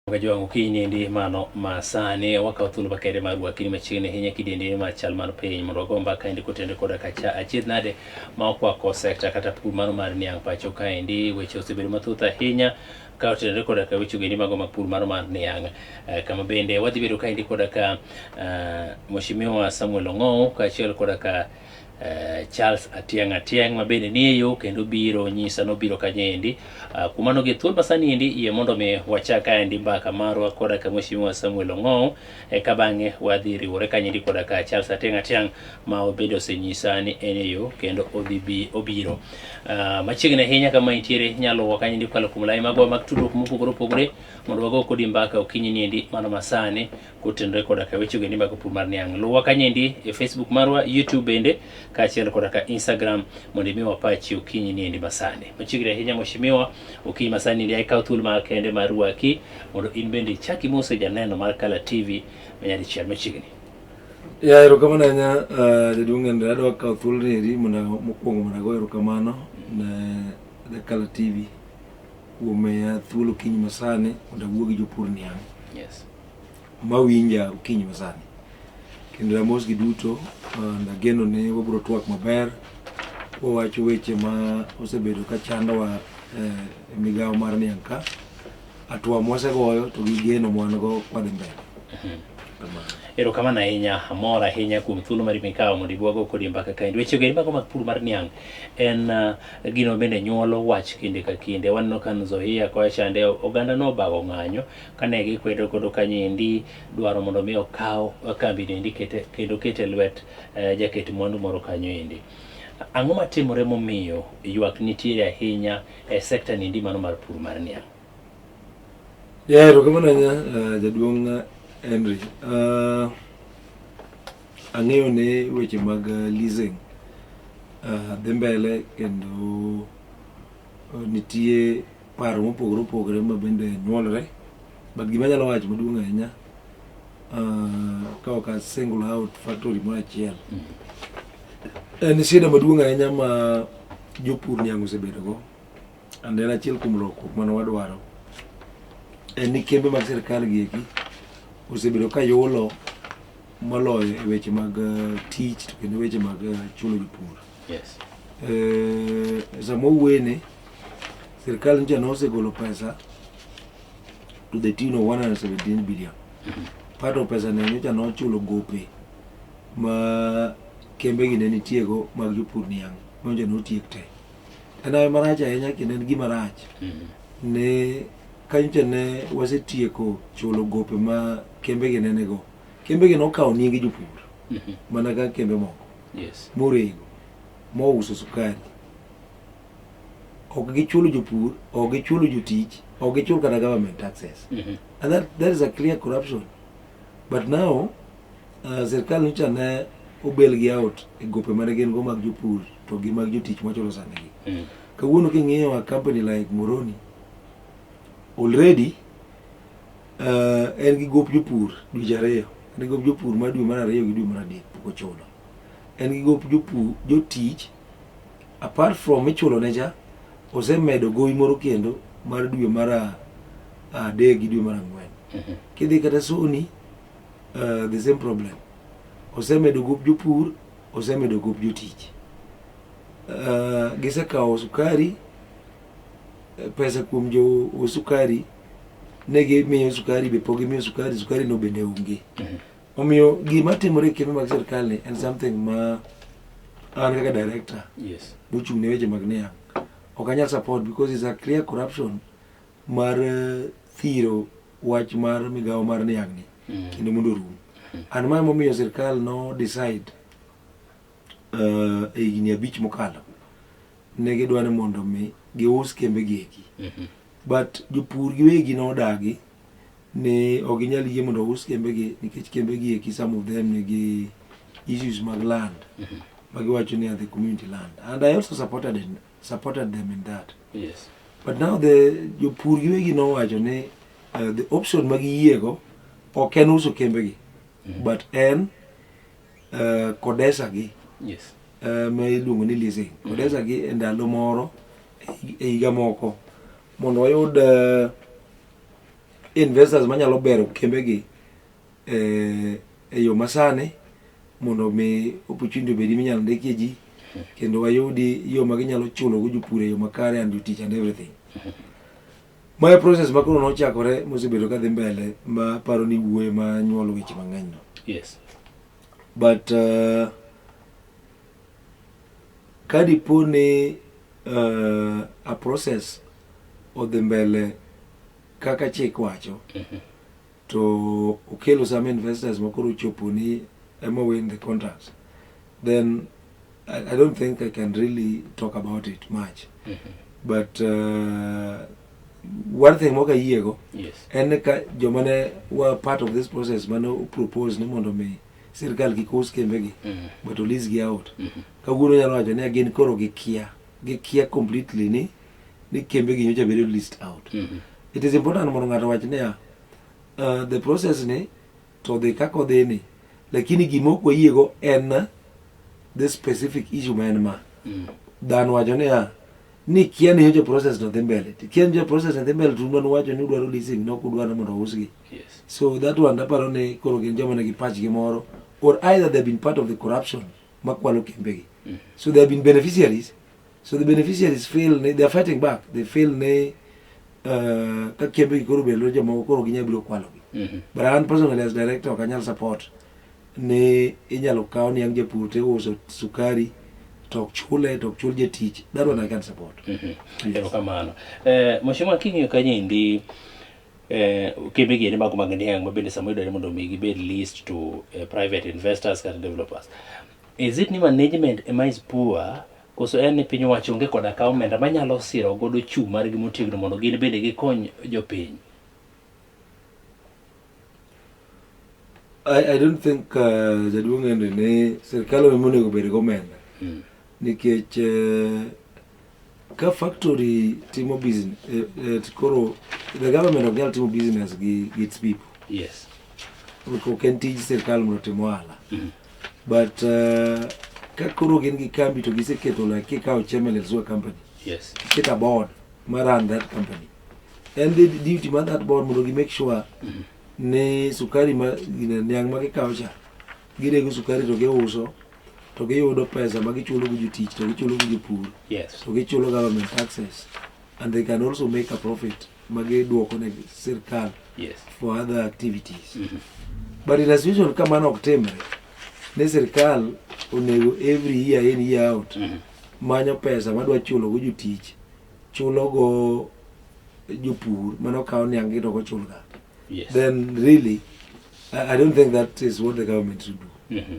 Mchungaji wangu kiny ndi mano masani wakawo thuolo makende mar rwakini machiegni ahinya kidiendini mar chal mar piny mondo wago mbaka endi kotende koda kacha achiedh nade ma okwako sekta kata pur mano mar niang' pacho kaendi weche osebedo mathoth ahinya ka otenore koda ka weche ogendi mago mag pur mano mar niang' eh, kama bende wadhi bedo kaendi koda ka eh, Mheshimiwa Samuel Ong'ow kaachiel koda ka Eh, Charles Atiang Atiang ma bende nie yo kendo biro nyisa nobiro kanyendi uh, eh, kuma no gi thuol masani endi iye mondo mi wachak aendi mbaka marwa koda ka mheshimiwa Samuel Ong'ow e eh, ka bang'e wadhi riwore kanyendi koda ka Charles Atiang Atiang ma obedo osenyisa ni en e yo kendo odhi bi obiro uh, machiegni ahinya kama intiere nyalo wa kanyendi kwalo kum lai magwa mag tudruok mopogore opogore mondo wago kodi mbaka okinyi ni endi mano masani kotenore koda ka wechego ni mag pur mar niang'. Luwa kanyendi e Facebook marwa, YouTube bende, kaachiel koda ka Instagram mondo imi wapachi okinyi ni endi masani. Machiegni ahinya Mheshimiwa, okinyi masani ndi ikaw thuolo ma kende mar rwaki mondo in bende ichak imose janeno mar Kala TV manyadichiel machiegni. Ya erokamano ahinya uh, jaduong' Henry, adwa kawo thuolo ni eri mondo mokwongo mondo ago erokamano ne Kala TV kuom miya thuolo okinyi masani mondo awuo gi jopur niang'. Yes. ma winja okinyi masani. Kendo amos gi duto and ageno ni wabiro twak maber wawacho weche ma osebedo ka chandowa e migawo mar niang' ka. Atwa mwasegoyo to gi geno mwan go kwadhi mbele. Kamano. Erokamano ahinya, amor ahinya kuom thuolo mari mikawo mondo ibwago kodie mbaka kaendi. Wechego eri mago mag pur mar niang' en ah, gino bende nyuolo wach kinde ka kinde. Waneno ka Nzoia kocha chande ogandano obago ng'anyo kane gikwedo kodo kanyendi dwaro mondo mi okaw kambi endi kete kendo kete lwet eh, jaket mwandu moro kanyo endi ang'o matimore momiyo ywak nitiere ahinya e sekta niendi mano mar pur mar niang' Yeah, erokamano ahinya uh, jaduong' uh, Henry. Uh, ang'eyo ne weche mag uh, leasing uh, dhi mbele kendo uh, nitie paro mopogore opogore ma bende nyuolre but gima anyalo wacho maduong' ahinya ah, ka ok a single out factory moro achiel mm. en shida maduong' ahinya ma jopur niang' osebedogo and en achiel kuom lokruok mane wadwaro en ni kembe mag sirikal gi eki osebedo ka yulo moloyo e weche mag eh, tich to kendo weche mag eh, chulo jopur Yes. Eh, sama owene sirkal ncha nosegolo pesa to the tune of 117 billion mm-hmm. part of pesa ne nyocha nochulo gope ma kembe gi ne nitiego mag jopur niang' nonja notiek te en awe marach ahinya kendo en gima rach mm-hmm. ne kanyocha ne wasetieko chulo gope ma kembe gi nenego kembe gi nokawo nyingi jopur mm-hmm. mana ka kembe moko yes. morego mouso sukari ok gichulo jopur ok gichulo jotich ok gichul kata government taxes mm -hmm. and that, that is a clear corruption but now uh, sirkal nyocha ne obel gi out e gope mane gin go mag jopur to gi mag jotich machulo sandigi mm. kawuono king'iyo a company like moroni already Uh, en gi gop jopur dweche ariyo en gi gop jopur mar dwe mar ariyo gi dwe mar adek pok ochulo en gi gop jopur jotich apart from ichulo ne cha osemedo gowi moro kendo mar dwe mar adek gi dwe mar ang'wen mhm. kidhi kata soni uh, the same problem osemedo gop jopur osemedo gop jotich uh, gisekawo sukari pesa kuom jo sukari ne gimiyo sukari be pok gimiyo sukari sukari no bende onge mhm. omiyo gima timore e kembe mag sirkal ni en something ma an kaka director mochung' ne weche mag niang' ok anyal support because is a clear corruption mar eh, thiro wach mar migawo mar niang' ni mhm. kendo mondo orum mhm. an ma momiyo sirkal no decide eh, e higni abich mokalo ne gidwa ni mondo mi gius kembe gi eki But jopur giwegi nodagi ni ok ginyal yie mondo ous kembegi nikech kembegi eki some of them nigi issues mag land mm-hmm. ma giwacho ni are the community land and I also supported, in, supported them in that yes. but now the jopur giwegi nowacho ni uh, the option ma giyiego ok en uso kembegi mm-hmm. but en eh, kodesa gi Yes. eh, ma iluongo ni leasing kodesa gi e ndalo moro e- e higa moko mondo wayud eh, investors manyalo bero kembe gi eh, e yo masani mondo mi opportunity obedi minyalo ndikie ji kendo wayudi yo ma ginyalo chulogo jopur e yo makare and jotich and everything Ma e process ma koro nochakore mosebedo kadhi mbele ma paro ni wuoye ma nyuolo weche mang'eny no. Yes. But uh, ka dipo ni uh, a process odhi mbele kaka chik wacho, mm -hmm. to ukelo some investors makoro ochoponi ema win the contracts then I, I don't think I can really talk about it much mm -hmm. but uh, one thing moka yiego yes. en ka joma ne were part of this process mane propose ni mondo mi sirkal kik us kembegi mm -hmm. but olisgi out mm -hmm. kawuono nyalo wacho ni gin koro gikia gikia completely ni ni kembe gi nyocha bedo list out mm -hmm. it is important mondo ng'ato wach niya uh, the process ni to dhi kaka odhi ni lakini gima ok wayiego en the specific issue ma en ma mm. dhano wacho niya ni kia ni nyocha process no dhi mbele kia ni nyocha process no dhi mbele tundo ni wacho ni udwaro leasing no kudwaro mondo usgi yes. so that one aparo ni koro gin joma nigi pach gi moro or either they have been part of the corruption makwalo kembegi mm. so they have been beneficiaries So the beneficiaries feel they are fighting back. They feel they uh, ka kembe koro be lo joma koro ginya biro kwalo gi. Mm -hmm. But an personally as director ok anyal support ne inyalo kawo ni ang japur te uso sukari to ok chule to ok chul jatich that one I can support. Mm -hmm. Yes. Erokamano. Eh, Mheshimiwa Kinyo Kanyindi eh, kembe gi mago mag niang' ma bende sama yudore mondo mi gibed leased to eh, private investors kata developers. Is it ni management ema is poor Koso en ni piny owacho onge koda ka omenda manyalo siro godo chung' margi motegno mondo gin bende gikony jopiny? I, I don't think uh, jaduong' Henry ni sirkal ema onego obed gomenda mm. nikech uh, ka factory timo business uh, uh, koro the government ok nyal timo business gi, gi its people yes ok en tij sirkal mondo otim ohala mm. But uh, ka koro gin gi kambi to giseketo like kikawo Chemelets wa company. Yes. Get a board ma run that company. And the duty ma that board mondo gi make sure ni sukari ma gine- niang' ma gikawo cha girego sukari to giuso to giyudo pesa ma gichulo go jotich to gichulo go jopur Yes. to gichulo government taxes and they can also make a profit magiduoko ne sirkal yes. for other activities mm -hmm. but in a situation kama mano ok timre ne sirkal onego every year in year out mm -hmm. manyo pesa madwa chulo go jotich chulo go jopur mano kawo niang' gi to gochulga yes. then really I, I don't think that is what the government should do mm -hmm.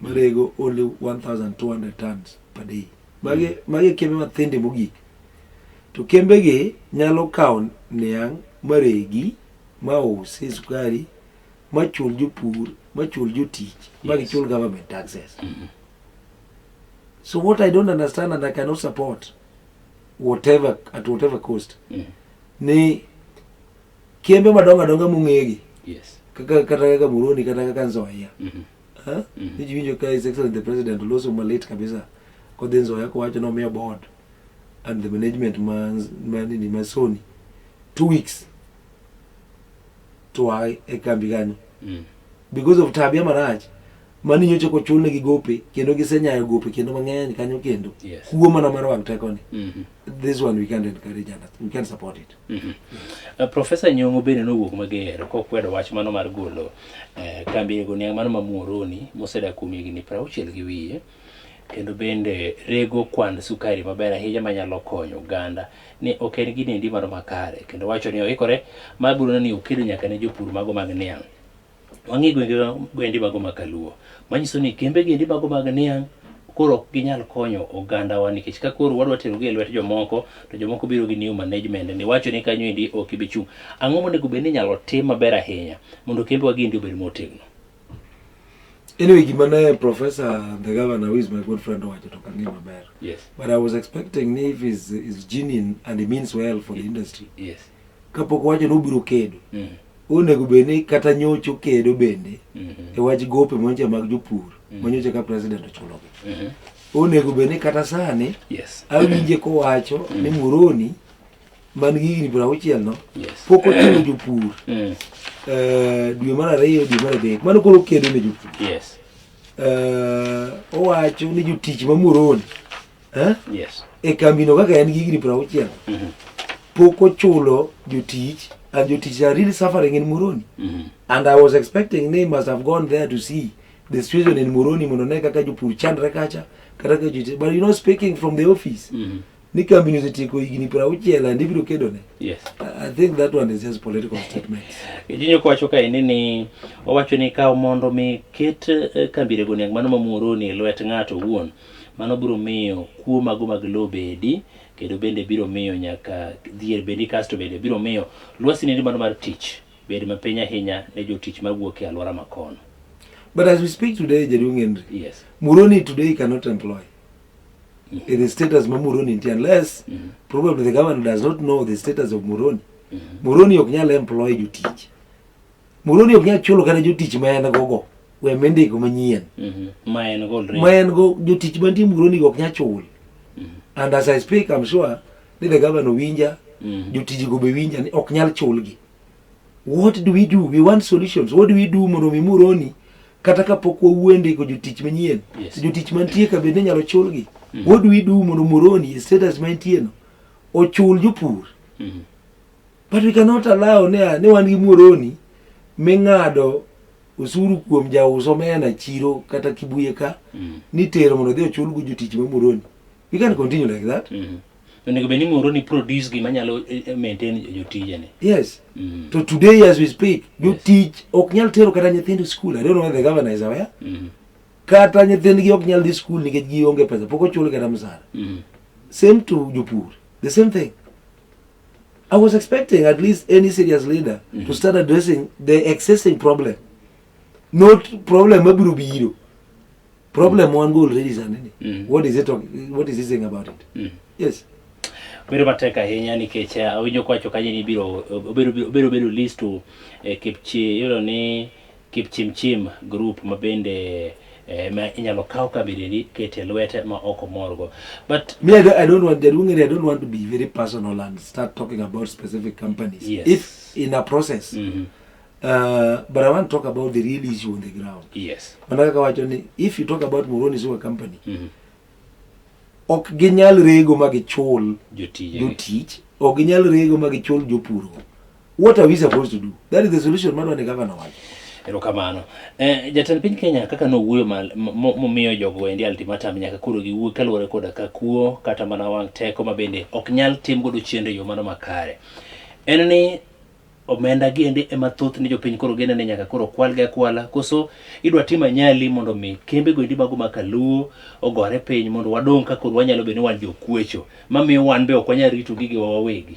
marego only 1200 tons per day magi mm. magi e kembe mathinde mogik to kembegi nyalo kawo niang' maregi ma usi sukari machul jopur machul jotich magichul government taxes mm-hmm. so what i don't understand and i cannot support whatever at whatever cost mm. ni kembe madongo adongo mong'egi yes. kaka kata kaka muroni kata kaka nzoia mm -hmm. Huh? Mm -hmm. Nijiwinjo ka His Excellency the President oloso malit kabisa kodhi nzoya kowacho nomiyo board and the management ma, ma nini ma Sony two weeks to a e kambi kanyo mm. because of tabia marach mani nyocha kochulne gi gope kendo gisenyayo gope kendo mang'eny kanyo kendo yes. kuo mana mar wang tekoni mm -hmm. this one we can't encourage and we can't support it. Mm -hmm. uh, Professor Nyong'o bende nowuok mager kokwedo wach mano mar golo uh, kambi ego niang' mano ma Muhoroni mosedak kuom higni prauchiel gi wiye kendo bende rego kwand sukari maber ahinya manyalo konyo oganda ni ok en gini endi mano makare kendo wacho ni oikore mar golo ni okedo nyaka ne jopur mago mag niang'. wang'e gwenge gwendi mago ma kaluo manyiso ni kembe giendi mago mag niang' koro ok ginyal konyo ogandawa nikech ka koro wadwa terogi e lwet jomoko to jomoko biro gi new management ni wacho ni kanyo endi ok ibi chung' ang'o monego bed ni inyalo tim maber ahinya mondo kembe wagi endi obed motegno Anyway, gima ne Professor the governor who is my good friend owacho to kang'e maber. Yes. But I was expecting if is is genuine and he means well for the industry. Yes. kapok owacho ni obiro kedo mm. onego bed ni kata nyocha okedo bende mm-hmm. e wach gope monja mag jopur mm. manyocha ka president ochulogi mm-hmm. onego bed ni kata sani awinje kowacho mm. ni Muroni man gi higni piero auchiel no pok ochulo jopur mm. eh, dwe mar ariyo dwe mar adek mano koro okedo ne jopur eh, owacho ni jotich ma Muroni Eh? Yes. e kambino kaka en gi higni piero auchiel Mhm. pok ochulo jotich and jotich are really suffering in Muroni Mhm. and I was expecting they must have gone there to see the situation in Muroni mondo ne kaka jopur chandre kacha kata kaka jotich but you know speaking from the office Mhm. ni kambino osetieko higni piero auchiel and ibiro kedone Yes. I I think that one is just political statement Kijinyo kwacho ka ini ni owacho ni kaw mondo mi ket eh, kambirego niang mano ma Muhoroni e lwet ng'ato owuon Mano biro miyo kuo mago mag lowo bedi, kendo bende biro miyo nyaka dhier bedi, kasto bende biro miyo lwasi nende mano mar tich bed mapiny ahinya ne jotich mawuok e alwora makono. But as we speak today, Jaduong Henry, yes. Muroni today cannot employ mm -hmm. in the status ma Muroni nti unless mm -hmm. probably the government does not know the status of Muroni. Mm -hmm. Muroni ok nyal employ jotich. Murundi ok nyal chulo kata jotich ma en gogo we mendego manyien mhm. ma en go ma en go jotich mantie Murundi ok nyal chul mhm. and as I speak I'm sure ni the governor winja mhm. jotiji go be winja ni ok nyal chulgi what do we do we want solutions what do we do mondo mi Murundi kata kapok wawuende go jotich manyien yes. jotich mantie ka bende nyalo chulgi mm -hmm. what do we do mondo Murundi status mantie no ochul jopur mm -hmm. But we cannot allow ni ni wan gi muoroni ming'ado osuru kuom jauso mena chiro kata kibuye ka mm. ni tero mondo dhi ochul go jotich ma muoroni. We can continue like that. Mm -hmm. Onego bed ni muoroni produce gima nyalo eh, eh, maintain jotijene. Yes. Mm -hmm. To today as we speak, jotich yes. ok nyal tero kata nyithindo school. I don't know whether the governor is aware. Mm -hmm. Kata nyithindgi ok nyal dhi school nikech gionge pesa, pok ochul kata msara. Mm -hmm. Same to jopur. The same thing. I was expecting at least any serious leader mm -hmm. to start addressing the existing problem, not problem mabiro biro. Problem mm -hmm. one go already is anene. Mm -hmm. What is it talking? What is he saying about it? Mm -hmm. Yes. Bedo matek ahinya nikech eh, awinjo kwacho kaje ni biro obiro obiro bedo list to eh, kipchi yudo ni Kipchimchim group ma bende eh, ma inyalo kaw kabiriri kete lwete ma ok omorgo but Me, I don't, I don't want, Jaduong Ere, I don't want to be very personal and start talking about specific companies. Yes. If in a process, mhm, uh, but I want to talk about the real issue on the ground. yes Manaka kawacho ni, if you talk about Moroni Sewer Company, mhm, ok ginyal rego ma gichul jotije jotich, ok ginyal rego ma gichul jopurgo. What are we supposed to do? That is the solution mano ne governor wacho. Erokamano. Eh, jatend piny Kenya kaka nowuoyo momiyo jogo endi ultimatum nyaka koro giwuo kaluwore koda ka kuo kata mana wang' teko ma bende ok nyal tim godo chiende e yo mano makare. En ni omenda gi endi ema thoth ni jopiny koro gene ni nyaka koro kwal ga kwala koso idwa tim anyali mondo mi kembe go endi mago ma kaluo ogore piny mondo wadong' ka koro wanyalo bedo ni wan jokuecho mamiyo wan be ok wanyal rito gigewa wawegi.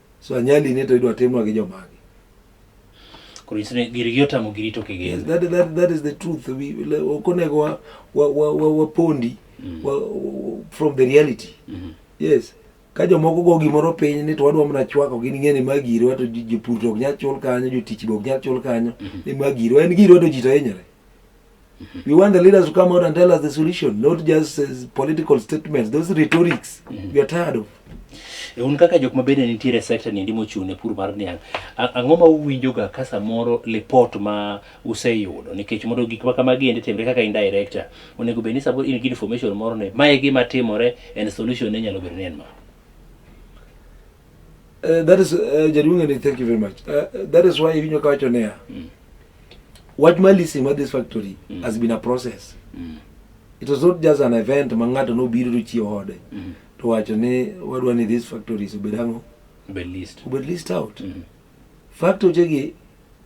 So anyali ni to idwa timwa gi jomagi. Koro inyiso ni girgi otamo giri to kigin. Yes, that, that, that is the truth. We, le- ok onego wa, wa, wa, wa, wapondi wa, wa, from the reality. Yes. Ka jomoko go gimoro piny ni to wadwa mana chwako gin ng'e ni ma girwa to ji- jopur to ok nyal chul kanyo, jotich be ok nyal chul kanyo, ni ma girwa. En girwa to ji to hinyore. We want the leaders to come out and tell us the solution, not just uh, political statements. Those rhetorics we are tired of. E, un kaka jok ma bende nitiere e sekta ni ndi mochung' ne pur mar niang' a- ang'o ma uwinjoga ka samoro lipot ma useyudo nikech mondo gik ma kamagi endi timre kaka in director onego bed ni samoro in gi information moro ni mae gima timore and solution ne nyalo bedo ni en ma Uh, that is, uh, Jaduong, and thank you very much. Uh, that is why Ivinyo Kawacho Nea. Wach mar listing mar this factory mm. has been a process. Mm. It was not just an event ma ng'ato nobiro to chiew ode mm. to wacho ni wadwa ni this factory is obed ang'o? Obed list. Obed list out. Mm. Factory gi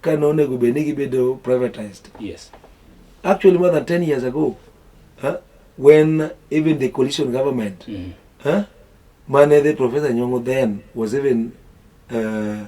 ka nonego bed ni gibedo privatized. Yes. Actually more than 10 years ago, huh, when even the coalition government mm. huh, mane the professor Nyong'o then was even uh,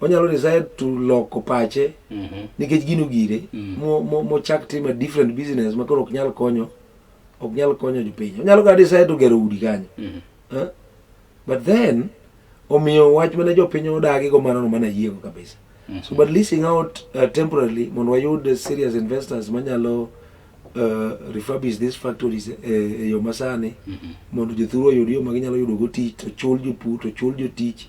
onyalo decide to loko pache Mhm. nikech gino gire Mm. mo- mo- mochak timo a different business ma koro ok nyal konyo ok nyal konyo jopiny onyalo kata decide to gero udi kanyo Mhm. Eh? but then omiyo wach mane jopiny odagi go mano no mana yiego kabisa Mhm. so but leasing out uh, temporarily mondo wayud uh, serious investors manyalo uh, refurbish these factories eh, e yo masani Mhm. mondo jothuru oyud yo ma ginyalo yudogo tich to chul jopur to chul jotich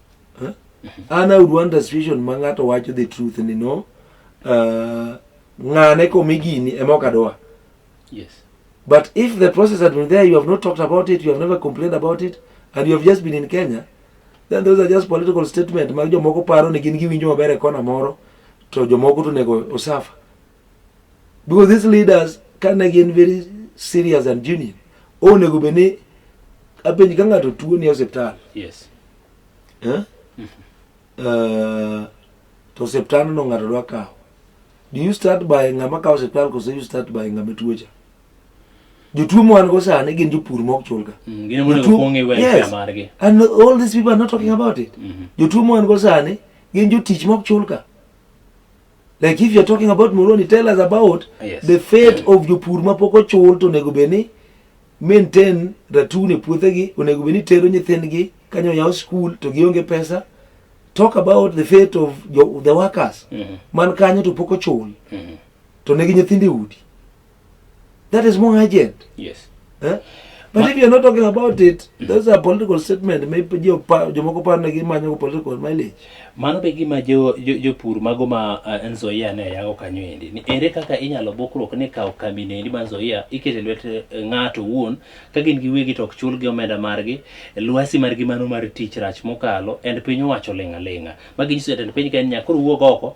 Huh? An I would want a situation ma ng'ato wacho the truth ni no uh, ng'ane komi gini ema ok adwa. Yes. But if the process had been there, you have not talked about it, you have never complained about it, and you have just been in Kenya, then those are just political statement mag jomoko paro ni gin giwinjo maber e kona moro to jomoko to nego osafa. because these leaders kane gin very serious and genuine onego bed ni apenji ka ng'ato tuo ni osiptal yes. eh? uh, to osiptal no ng'ato dwa kawo do you start by ng'ama kawo osiptal kose you start by ng'ama tuocha jotuo mwan go sani gin jopur mok chulga mm, gin monego Jotuo- kuong' iwe yes. margi and all these people are not talking about it Mhm. jotuo mwan go sani gin jotich mok chulga Like if you're talking about Moroni, tell us about yes. the fate of jopur ma pok ochul to onego bed ni maintain ratun e puothegi, onego bed ni tero nyithindgi kanyo yaw school to gionge pesa. Talk about the fate of the workers. Mm -hmm. Man kanyo to pok ochul. Mm -hmm. To negi nyithindi udi. That is more urgent. Yes. Eh? But Ma if you're not talking about it, mm. those are political statement. Maybe jo pa jo moko pa na gima nyo political mileage. Mano be gima jo jo, jo pur mago ma uh, eh, Nzoia ne yago kanyo endi. Ni ere kaka inyalo bokruok ne kawo kambi ne endi ma Nzoia ikete lwet eh, ng'ato wuon ka gin gi wegi tok chul gi omenda margi, lwasi margi mano mar tich rach mokalo and piny owacho lenga lenga. Magi nyiso jatend piny Kenya koro wuog oko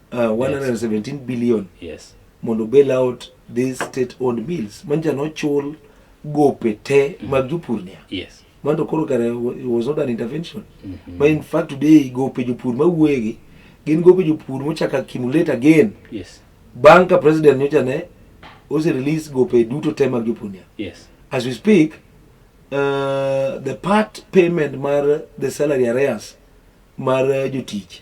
uh, 117 billion yes mondo bail out these state owned mills manja nochul gope te mag jopur nia yes mondo koro kare it was not an intervention ma in fact today gope jopur mawuoyegi gin gope jopur mochako accumulate again yes bang' ka president nyocha ne ose release gope duto te mag jopur nia yes as we speak uh, the part payment mar the salary arrears mar uh, jotich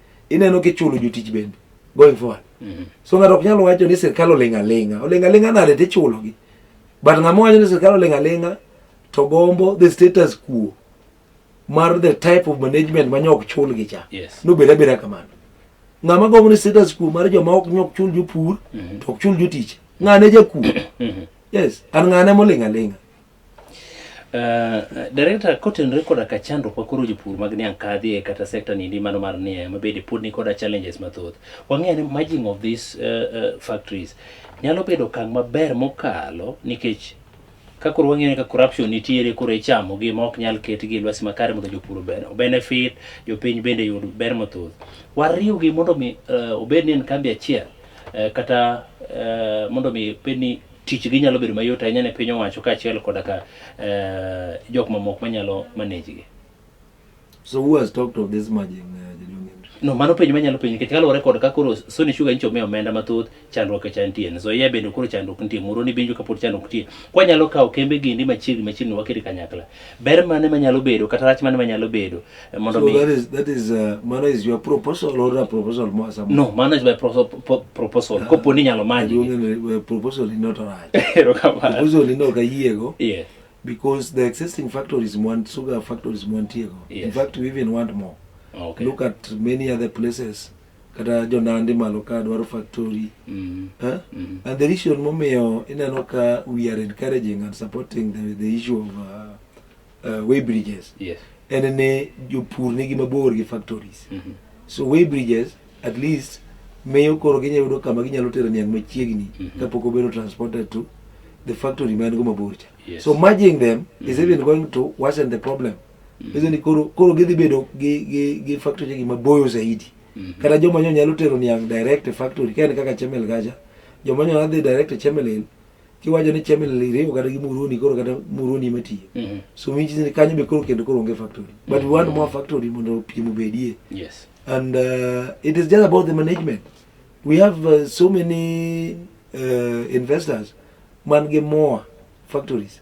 ineno kichulo jotich bende going forward mm -hmm. so ng'ato ok nyalo wacho ni sirkal oling' aling'a oling' aling'a nade to ichulogi but ng'ama wacho ni sirkal oling' aling'a to gombo the status quo mar the type of management ma nyok chulgi cha yes. nobed abeda kamano ng'ama gombo ni status quo mar joma ok nyok chul jopur mm -hmm. to ok chul jotich ng'ane jakuo mm -hmm. yes an ng'ane moling' aling'a Uh, eh, Direkta, kotenore koda ka chandruok ma koro jopur mag niang' kadhie kata sekta nindi mano mar niang' ma bende pod ni koda challenges mathoth, wang'eyo ni merging of these uh, uh, factories nyalo bedo okang' maber mokalo nikech ka koro wang'eyo ni ka corruption nitiere koro ichamo gi ma ok nyal ket gi lwasi makare mondo jopur benefit, jopiny bende yud ber mathoth. Wariw gi mondo mi uh, obed ni en kambi achiel uh, kata uh, mondo mi bed ni tichgi nyalo bedo mayot ahinya ne piny owacho kaachiel koda ka eh, jok mamoko manyalo manage gi. So who has talked of this merging, uh, Jaduong' Henry? No, mano penjo manyalo penjo nikech kaluwore kod ka koro Sony Sugar nyicho miyo omenda mathoth chandruok e chan tiene. So yeah bende koro chandruok nitie, Muhoroni bende injo kapod chandruok nitie. Kwanyalo kawo kembe gindi machiegni machiegni wakiri kanyakla. ber mane manyalo bedo kata rach mane manyalo bedo eh, mondo so that is that is uh, mano is your proposal or a proposal more some no mano is my proposal proposal uh, kopo ni nyalo manyi uh, proposal is not right proposal ni no kayiego yeah because the existing factories want sugar factories want yes. in fact we even want more okay. look at many other places kata jonandi malo ka dwaro factory mm. huh? mm. and the reason momiyo ineno ka we are encouraging and supporting the, the issue of uh, uh, way bridges yes. en ni jopur nigi mabor gi factories mm -hmm. so way bridges at least miyo koro ginyalo yudo kama ginyalo tero niang' machiegni mm -hmm. kapok obedo transported to the factory man go mabor cha yes. so merging them mm -hmm. is mm-hmm. even going to worsen the problem Hizo ni koro koro gidhi bedo gi gi gi factory gi maboyo zaidi. Mhm. Kata joma nyo nyalo tero niang' direct e factory ka en kaka Chemel Gaja. Joma nyo nyalo dhi direct e Chemel Hill. Kiwacho ni Chemel Hill iriwo kata gi Muruoni koro kata Muruoni ema tiyo. Mhm. So which is ni kanyo be koro kendo koro onge factory. But we want more factory mondo piem obedie. Yes. And uh, it is just about the management. We have uh, so many uh, investors man gi more factories.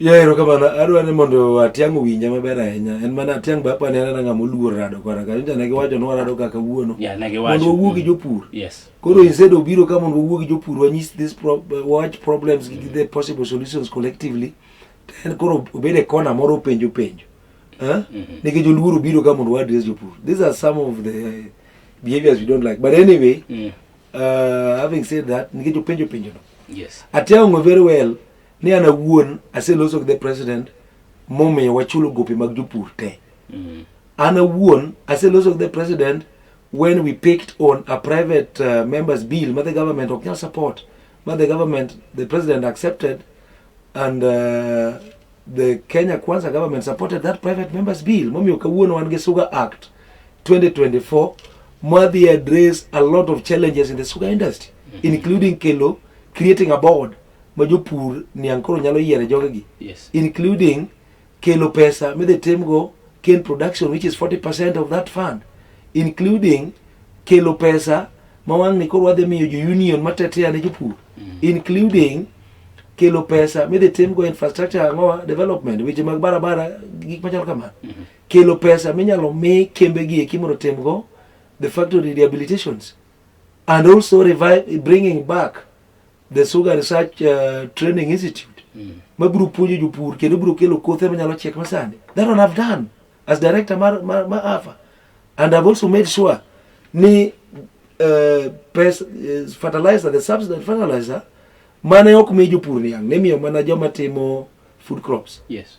Ya erokamano, adwa ni mondo Atiang' owinja maber ahinya. En mana Atiang' be apani anena ng'ama oluor rado kwana ka. Nyocha ne giwacho ni warado kaka wuono. Yeah, ne giwacho. Mondo wawuo gi jopur. Yes. Koro instead obiro ka mondo wawuo gi jopur wanyis this pro watch problems gi the possible solutions collectively. To en koro obede kona moro openjo penjo. Huh? Nikech oluor obiro ka mondo wa address jopur. These are some of the behaviors we don't like. But anyway, Mm. Uh, having said that, nikech openjo penjo no. Yes. Atiang'o very well ni an awuon aseloso gi the president momiyo wachulo gope mag jopur te. Mm. An awuon aseloso gi the president when we picked on a private uh, member's bill ma the government ok nyal support ma the government the president accepted And uh, the Kenya Kwanza government supported that private members bill. Momiyo kawuono wan gi Sugar Act 2024 madhi address a lot of challenges in the sugar industry mm -hmm. including kelo creating a board ma jopur niang' koro nyalo yiere jogegi yes. including kelo pesa midhi timgo cane production which is 40% of that fund including kelo pesa ma wang'ni koro wadhi miyo jo union matetea ne jopur including kelo pesa midhi timgo infrastructure ang'owa development weche mag barabara gik machalo kamano kelo pesa minyalo mi kembe gi eki mondo timgo the factory rehabilitations and also revive, bringing back The Sugar Research uh, Training Institute mm. ma biro puonjo jopur kendo biro kelo kothe manyalo chiek masani. That one I've done as director mar, mar, mar AFA and I've also made sure ni uh, pes, uh, fertilizer, the subsidized fertilizer mane ok mi jopur niang' nimiyo mana joma timo food crops. Yes.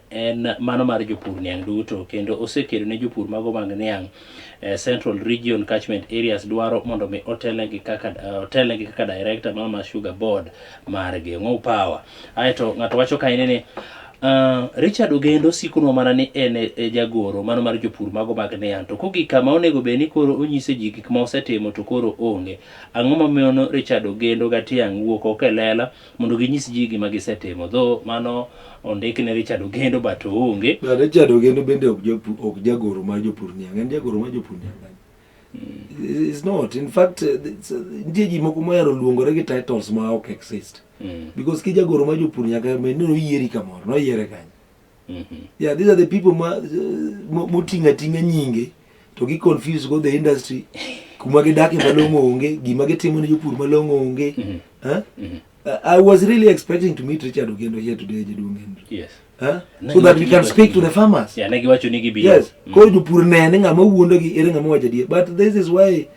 en mano mar jopur niang' duto kendo osekedo ne jopur mago mag niang' eh, Central Region Catchment Areas dwaro mondo mi otelnegi kaka eh, otelnegi kaka director mar Mama Sugar Board margi Ng'o Power. Aeto ng'ato wacho ka ine ni Uh, Richard Ogendo sikunwa mana ni en e, e jagoro mano mar jopur mago mag niang' to kogik kama onego bed ni koro onyise ji gik ma osetimo to koro onge. Ang'o mamiyo no Richard Ogendo gatiang' wuok oko e lela mondo ginyis ji gima gisetimo dho mano ondik ne Richard Ogendo but oonge But Richard Ogendo bende ok jopu- ok jagoro mar jopur niang' en jagoro mar jopur niang' nani? It's not. In fact, uh, it's, uh, nitie ji moko mohero luongore gi titles ma ok exist. Mm. Because ki jagoro mar jopur nyaka bed ni noyieri kamoro, noyiere kanyo. mm -hmm. yeah these are the people ma uh, motinga tinga nyinge to gi confuse go the industry kuma gidake malongo onge gima gitimo ne jopur malongo onge mm -hmm. huh? mm -hmm. I was really expecting to meet Richard Ogendo here today Jaduong Henry. Yes. Huh? So that we can speak to the farmers. Yeah, nagi wacho ni gibi. Yes. Mm. Koro jopur nene ngama wuondo gi ere ngama wacho die. But this is why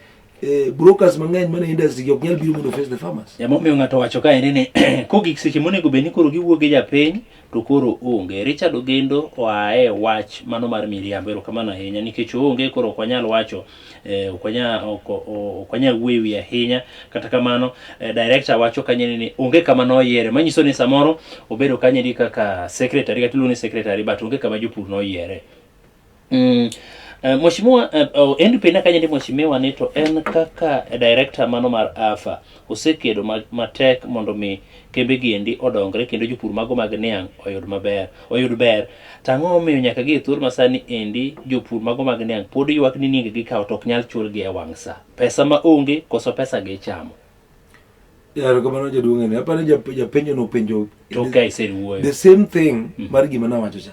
Eh, brokers mang'eny mana industry gi ok nyal biro mondo face the farmers. Ema omiyo ng'ato wacho ka ene ni kogik seche monego bed ni koro giwuok gi japiny to koro onge. Richard Ogendo oa e wach mano mar miriambo. Erokamano ahinya nikech oonge koro ok wanyal wacho eh, ok wanyal ok- o- ok wanyal wuoyo e wiye ahinya. Kata kamano eh, director wacho kanyo ene ni onge kama noyiere manyiso ni samoro obedo kanyo eri kaka secretary kata iluongo ni secretary but onge kama jopur noyiere. Mm. Uh, mheshimiwa uh, oh, Andrew Pena kanye ndi mheshimiwa ni to en kaka director mano mar AFA osekedo ma- matek mondo mi kembe gi endi odongre kendo jopur mago mag niang' oyud maber oyud ber tang'o omiyo nyaka gi e thuolo masani endi jopur mago mag niang' pod ywak ni nienge gi kawo to ok nyal chul gi e wang' sa pesa ma onge koso pesa gi ichamo yaro kamano jaduong' ene apani japenjo nopenjo to ka iseriwuoyo the same thing mar gima nawacho cha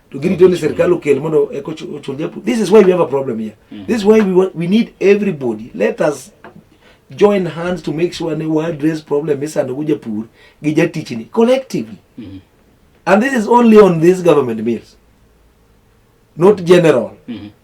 to girito ni sirkal okel mondo eko ochul japu this is why we have a problem here mm. this is why we, want, we need everybody let us join hands to make sure ne we address problem misando go japur gi jatichni collectively mm -hmm. and this is only on this government meals not general mm -hmm.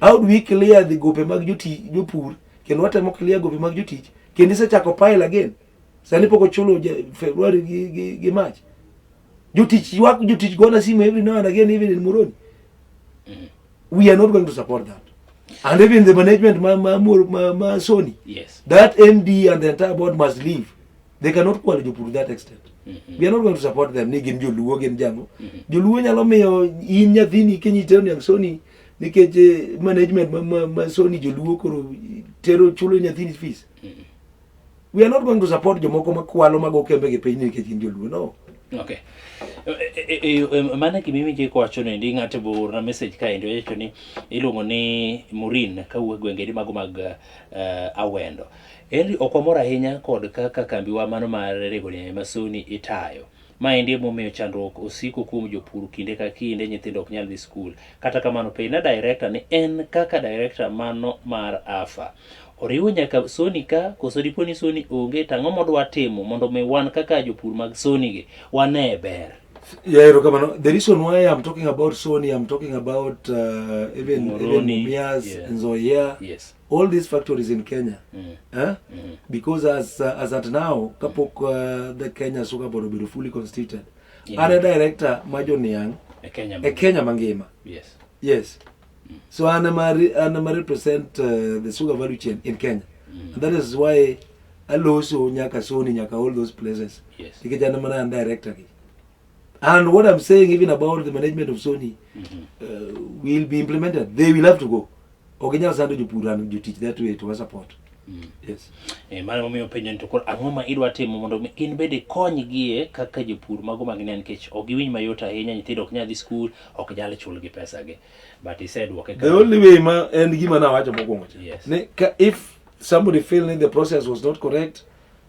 How do we clear the gope mag joti jopur kendo watemo clear gope mag jotich kendo isechako pile again. Sani pok ochulo February gi, gi, gi March. Jotich ywak jotich gona simu every now and again even in Moroni. Mm. We are not going to support that. And even the management ma, ma, ma, ma Sony. Yes. That MD and the entire board must leave. they cannot kwalo jopur that extent mm -hmm. we are not going to support them ni gin joluo gin jango mm -hmm. joluo nyalo miyo in nyathini kenyitero niang soni nikech eh, management ma, ma, ma soni joluo koro tero chulo nyathini fees mm -hmm. we are not going to support jomoko makwalo mago kembe gi piny nikech gin joluo no okay e, e, e, mana gima iwinjo kowacho nendi ng'ato boorna message kaendi owacho ni iluongo ni murin kawuok gwengeri mago mag uh, awendo uh, Henry ok wamor ahinya kod kaka kambiwa mano mar rego nyanya ma Sony itayo. Maendi emomiyo chandruok osiko kuom jopur kinde ka kinde nyithindo ok nyal dhi skul. Kata kamano penjna director ni en kaka director mano mar AFA oriwo nyaka Sony ka koso dipo ni Sony onge to ang'o modwa timo mondo mi wan kaka jopur mag Sony gi wanee ber. Yeah, erokamano. The reason why I'm talking about Sony, I'm talking about uh, even Moroni, even Mumias, yeah. Nzoia. Yes. all these factories in Kenya mm. eh? mm. because as uh, as at now kapok mm. uh, the Kenya Sugar Board obedo fully constituted yeah. are director Majo Niang e Kenya, e Kenya mangima yes yes mm. so an ma an ma represent uh, the sugar value chain in Kenya mm. and that is why aloso nyaka Sony nyaka all those places yes nikech an mana director gi And what I'm saying even about the management of Sony mm -hmm. uh, will be implemented. They will have to go. Oginyal sando jopur and you teach that way to support. Mm. Yes. Eh, mano momiyo penjo ni to koro ang'o ma idwa timo mondo in bende ikonygie kaka jopur mago mag ne nikech ok giwinj mayot ahinya nyithindo ok nyal dhi skul ok nyal chulgi pesagi but isedwoke the only way ma en gima nawacho mokwongo yes. ne ka if somebody feel ni the process was not correct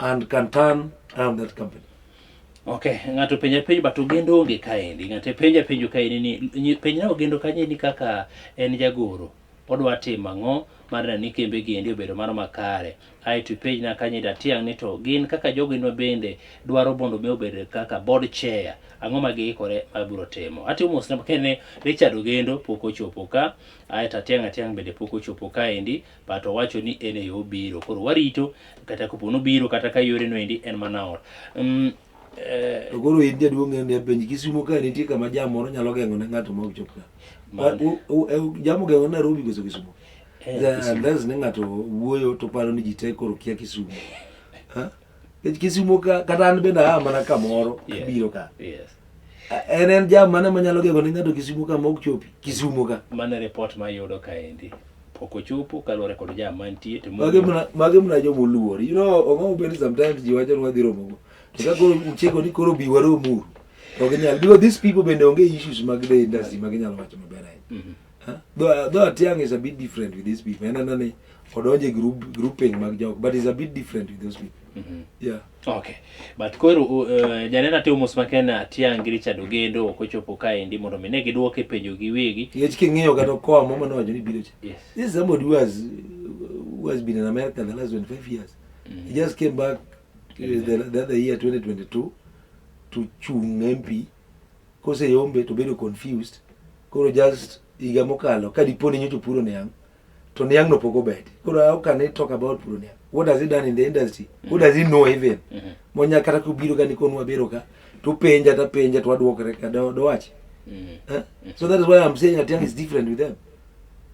and can turn around that company. Okay, ng'ato penja penjo but Ogendo onge kaendi. Ng'ato penja penjo kaendi ni penjna Ogendo kanye ni kaka en jagoro odwa timo ang'o mar neno ni kembe gi endi obedo mano makare. Ae to penjna kanye da tiang' ni to gin kaka jogo inwa bende dwaro bondo me obedo kaka board chair ang'o ma giikore ma biro timo. Ati umos na kene Richard Ogendo pok ochopo ka ae to atiang' atiang' bende pok ochopo kaendi but owacho ni en eyo obiro koro warito kata kopo nobiro kata ka yore noendi en mana or um, eh, to koro in jaduong' ng'eyo ni apenji kisumo ka nitie kama jam moro nyalo geng'o ne ng'ato ma ok chop ka Man. U- u- u- jam ogeng'o nairobi koso kisumo eh, Kisumo. unless ne ng'ato wuoyo to paro ni ji te koro kia kisumo Ha? Nikech Kisumo ka kata an bende aa mana kamoro Yeah. abiro ka. Yes. A- En en jam mane manyalo gego ne ng'ato Kisumo ka ma ok chopi? Kisumo ka. Mano e report ma ayudo kaendi. Pok ochopo kaluwore kod jam mantie to Mage mna mage mna joma oluor. You know, ong'o bende sometimes ji wacho ni wadhi romo go. To ka koro uchiko ni koro bi warom uru. Ok nyal. Because these people bende onge issues mag the industry ma ginyalo wacho maber ahinya. Mhm. Though, though Atiang is a bit different with these people. Ena nani odonje group grouping mag jok, but is a bit different with those people. Mm -hmm. Yeah. Okay. But koro uh, uh janena te umus makena Atiang gi Richard Ogendo ok ochopo kae ndi mondo mine giduoke penjo gi wegi. Yech king'iyo kata koa mama no wajoni biro cha. Yes. This is somebody who has who has been in America the last 25 years. Mm -hmm. He just came back uh, the, the other year 2022 to chung MP koseyombe to bedo confused koro just higa mokalo ka dipo ni nyocha opuro niang' to niang'no pok obeti koro how can he talk about puro niang' what has he done in the industry who does he know even Mhm. monya kata kobiro ka nikonu wabiro ka to penja ta penja to adwokre ka do- dowachi Mhm. Eh? So that is why I'm saying Atiang is different with them.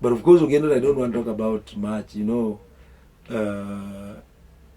But of course, again, I don't want to talk about much, you know, uh,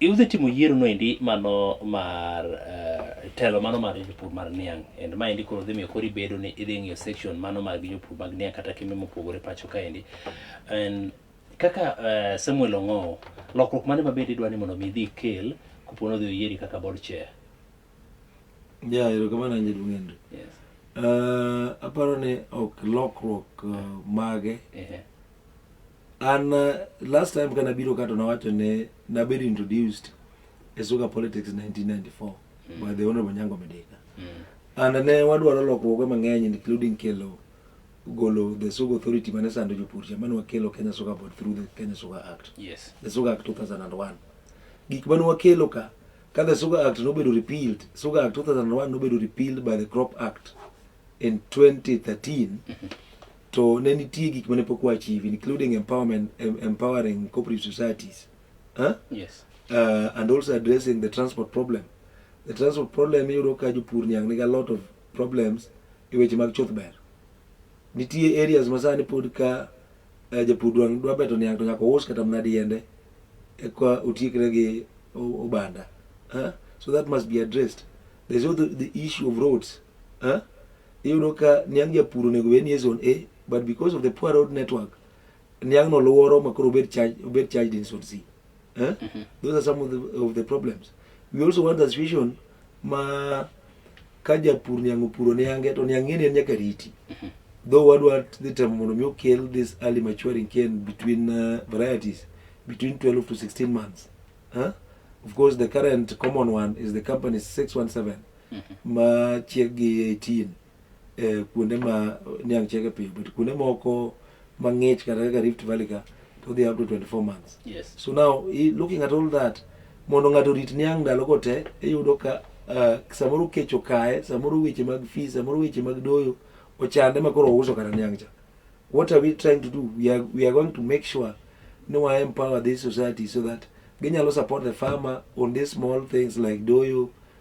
E usetimo yiero no endi mano mar uh, telo mano mar jopur mar niang' and ma endi koro dhi miyo kori bedo ni idhi ng'iyo section mano mag jopur mag niang' kata kembe mopogore pacho ka endi and kaka uh, Samuel Ong'owo lokruok mane mabende idwa ni mondo mi idhi kel kopo ni odhi oyieri kaka board chair ya erokamano anje duong' Henry yes. uh, aparo ni ok lokruok uh, mage uh -huh. An uh, last time kana biro kato nawacho ne nabedo introduced e Suga Politics 1994 mm. by the Honorable Nyango Medeka. Mm. And ne wadwaro lokruoge mang'eny including kelo golo the Suga Authority mane sando jopur cha mane wakelo Kenya Suga Board through the Kenya Suga Act. Yes. The Suga Act 2001. Gik mane wakelo ka ka the Suga Act nobedo repealed, Suga Act 2001 nobedo repealed by the Crop Act in 2013. Mm -hmm. To ne nitie gik mane pok wachieve including empowerment, em, empowering cooperative societies. Huh? Yes. uh, and also addressing the transport problem. The transport problem iyudo ka jopur nyang nigi a lot of problems e weche mag chuth ber. Nitie areas ma sani pod ka uh, japur dwa dwa beto niang to nyaka ous kata mana diende eka otiekre gi o- obanda. Huh? So that must be addressed. There's also the issue of roads. Huh? Iyudo ka niang' japur onego bed ni zone A but because of the poor road network niang' no luoro makoro obed charge obed charged in zone C. Huh? Mm -hmm. Those are some of the, of the problems. We also want a situation ma ka japur niang' opuro niange to niang' ng'eni en nyaka riti. Mm -hmm. Though wadwa dhi temo mondo mi okel this early maturing cane between uh, varieties between 12 to 16 months. Huh? Of course, the current common one is the company 617. ma chieggi 18 eh, kuonde ma niang' chiege piyo but kuonde moko mang'ich kata kaka rift valley ka to dhi up to 24 months Yes. so now i- looking at all that mondo ng'ato orit niang' ndalo go te iyudo ka ah, samoro kech okaye samoro weche mag fees samoro weche mag doyo ochande ma koro ouso kata niang' cha what are we trying to do we are, we are going to make sure ni wa empower this society so that ginyalo support the farmer on these small things like doyo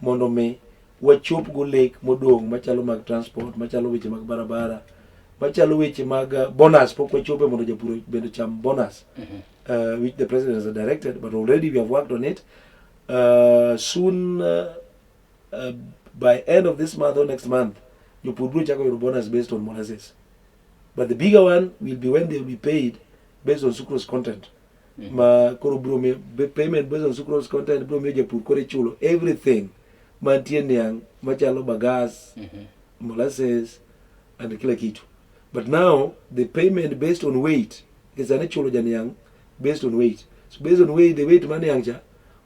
mondo mi wachopgo lek modong' machalo mag transport machalo weche mag barabara machalo weche mag uh, bonus pok wachope mondo japur bende cham bonus mm-hmm. uh, which the president has directed but already we have worked on it uh, soon uh, uh, by end of this month or next month jopur biro chako yudo bonus based on molasses but the bigger one will be when they will be paid based on sucrose content Mhm. ma koro bro miyo be- payment based on sucrose content bro miyo japur koro ichulo everything mantie niang' machalo bagas Mhm. molasses and kila kitu but now the payment based on weight kisani chulo janiang' based on weight so based on weight the weight ma niang' cha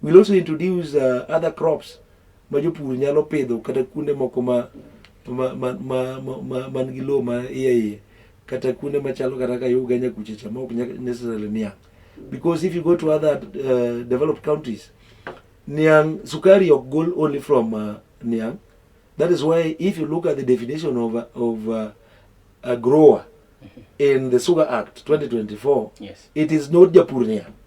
We'll also introduce uh, other crops ma jopur nyalo pidho kata kuonde moko ma ma ma ma ma man gi lowo ma iye iye kata kuonde machalo kata ka Uganda kucha cha ma ok nyaka necessarily niang' because if you go to other uh, developed countries niang' sukari ok gol only from uh, niang' that is why if you look at the definition of, uh, of uh, a grower in the sugar act 2024 Yes. it is not japur niang'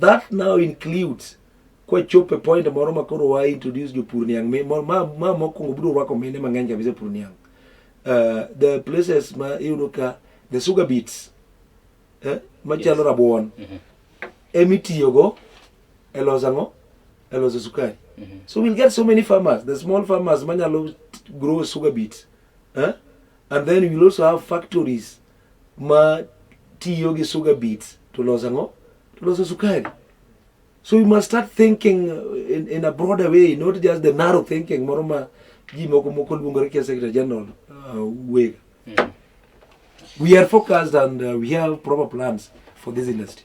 That now includes kwa chope point moro ma koro wa introduce jopur niang' mi ma ma mokwongo biro rwako mine mang'eny kabisa pur niang' uh, the places ma iyudo ka the sugar beets eh, machalo yes. rabuon mm -hmm. emitiyogo e loso ang'o e loso sukari mm -hmm. so we'll get so many farmers the small farmers manyalo grow sugar beets eh? and then we'll also have factories ma tiyo gi sugar beets to loso ang'o to loso sukari so you must start thinking uh, in, in a broader way not just the narrow thinking moro ma ji moko moko luongore kia secretary general uh, wega we are focused and uh, we have proper plans for this industry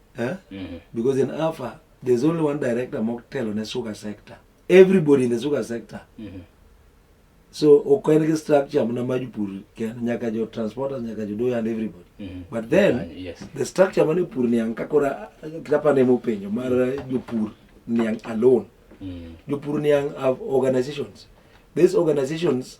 eh? mm -hmm. because in alpha there's only one director mokutelo ne sugar sector everybody in the sugar sector mm -hmm. so okaen gi structure mna majupur ken nyaka jo transporters nyaka jo doyo and everybody mm -hmm. but then uh, yes. the structure mane pur niang kakora kitapane mopenjo mar mm-hmm. jopur niang alone mm -hmm. jopur niang have organizations these organizations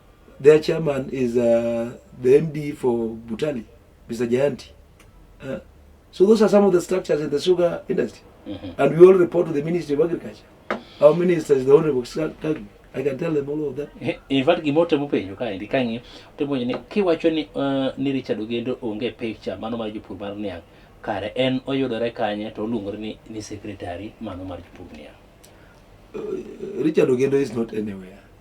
Their chairman is uh, the MD for Butali, Mr. Jayanti. Uh, so those are some of the structures in the sugar industry. Mm -hmm. And we all report to the Ministry of Agriculture. Our minister is the Honorable Kagwe. I can tell them all of that. In fact, gimote mupenjo kae ndi kangi temonyo ni kiwacho ni uh, ni Richard Ogendo onge picture mano mar jopur mar niang' kare en oyudore kanye to oluongore ni, ni secretary mano mar jopur niang'. Uh, Richard Ogendo is not anywhere.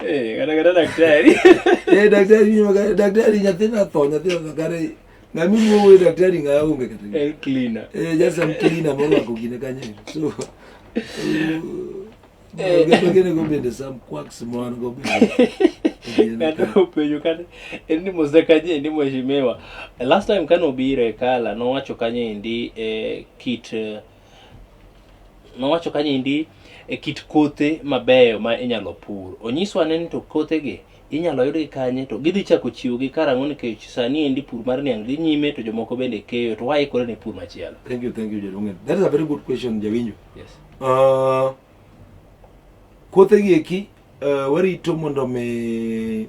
Eh, kata kata daktari. Eh, daktari ni magari, daktari nyathina tho, nyathina magari. Na mimi wewe daktari ngaya unge kata. Eh, cleaner. Eh, just some cleaner moro wako kine kanye. So. Eh, ngene go bende some quacks mwana go bende. Kata upenyo kata endi mose kanye endi mheshimiwa. Last time kano bire kala nowacho kanye endi eh, kit eh, Nowacho kaniendi e kit kothe mabeyo ma inyalo pur. Onyiso ane ni to kothegi inyalo yudgi kanye to gidhi chako chiwogi karang'o nikech sani endi pur mar niang' dhi nyime to jomoko bende keyo to waikore ne pur machielo. Thank you, thank you Jaduong'. That is a very good question Jawinjo. Yes. Uh, kothegi eki uh, warito mondo mi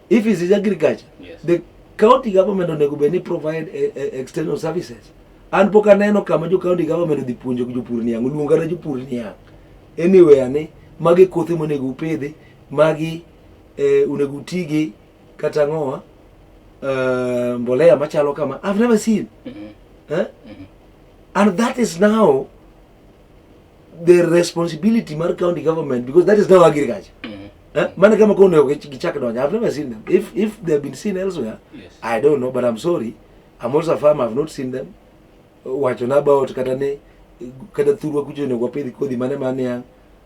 If it is agriculture, yes. the county government onego bed ni provide a, eh, a eh, external services. An pok aneno kama jo county government odhi puonjo jopur niang', oluonga ne jopur niang'. Anyway ane magi kothe monego upidhi, magi eh, onego utigi kata ng'owa uh, mbolea machalo kama. I've never seen. Mm -hmm. eh? mm -hmm. And that is now the responsibility mar county government because that is now agriculture mm -hmm. eh? maana kama kwa ndio kichaka ndo I've never seen them if if they have been seen elsewhere yes. I don't know but I'm sorry I'm also a farmer I've not seen them wacho na ba ot kata ne kata thurwa kucho ne kwa pidhi kodhi mane mane ya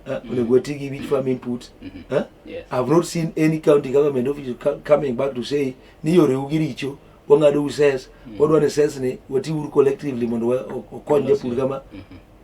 eh? mm -hmm. tigi which farm input mm -hmm. eh? yes. I've not seen any county government office coming back to say ni yore ugiricho wang'ado uses mm -hmm. wadwa ni ses ni watiuru collectively mondo wakony japur kama mm -hmm.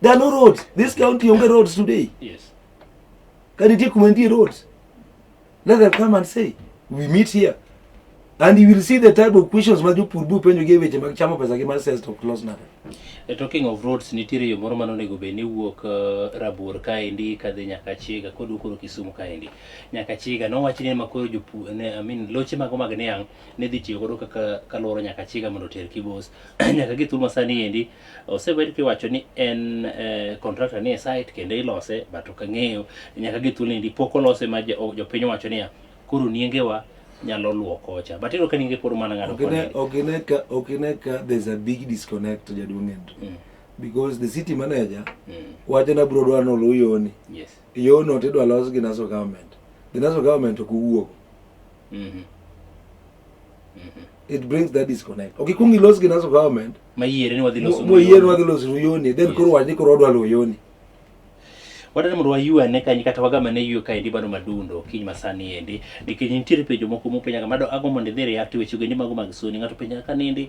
There are no roads. This county only roads today. Yes. Can you take Kumendi roads? Let them come and say, we meet here. And you will see the type of questions ma jopurbu penjo gi weche mag chamo pesa gi mar sales to close now. E talking of roads nitiere yo moro mane onego bed ni wuok uh, eh, Rabuor kaendi kadhi nyaka Chiga kod ukoro Kisumu kaendi nyaka Chiga nowach ni makoro jopu ne I mean loche mago mag niang' ne dhi tiyo godo kaka kaloro nyaka Chiga mondo oter Kibos nyaka gi thuma sani endi osebed kiwacho ni en eh, contractor ni e site kendo ilose but ok ang'eyo nyaka gi thuolo ni pok olose ma jo- jopiny owacho niya koro niengewa nyalo luwo kocha but iyudo ka nienge pod mana ng'ado koni. Okine- okine ka- okine ka there's a big disconnect jaduong' Andrew. Mm, because the city manager mm, wacho na bro dwa nolu yoni yes. yono tidwa los gi naso government the naso government ok owuok Mhm. Mhm. it brings that disconnect ok ikwong ilos gi naso government mayiere ni wadhi loso moyiere wadhi loso ruyoni then koro wach ni koro wadwa ruyoni wadani mondo waywane kanyi kata wagamane ywe kaendi bado madundo kiny masani endi nikech nitiere penjo moko mopenyaga mado ago mondo idhi react weche gendi mago mag soni ng'ato penjaga ka nindi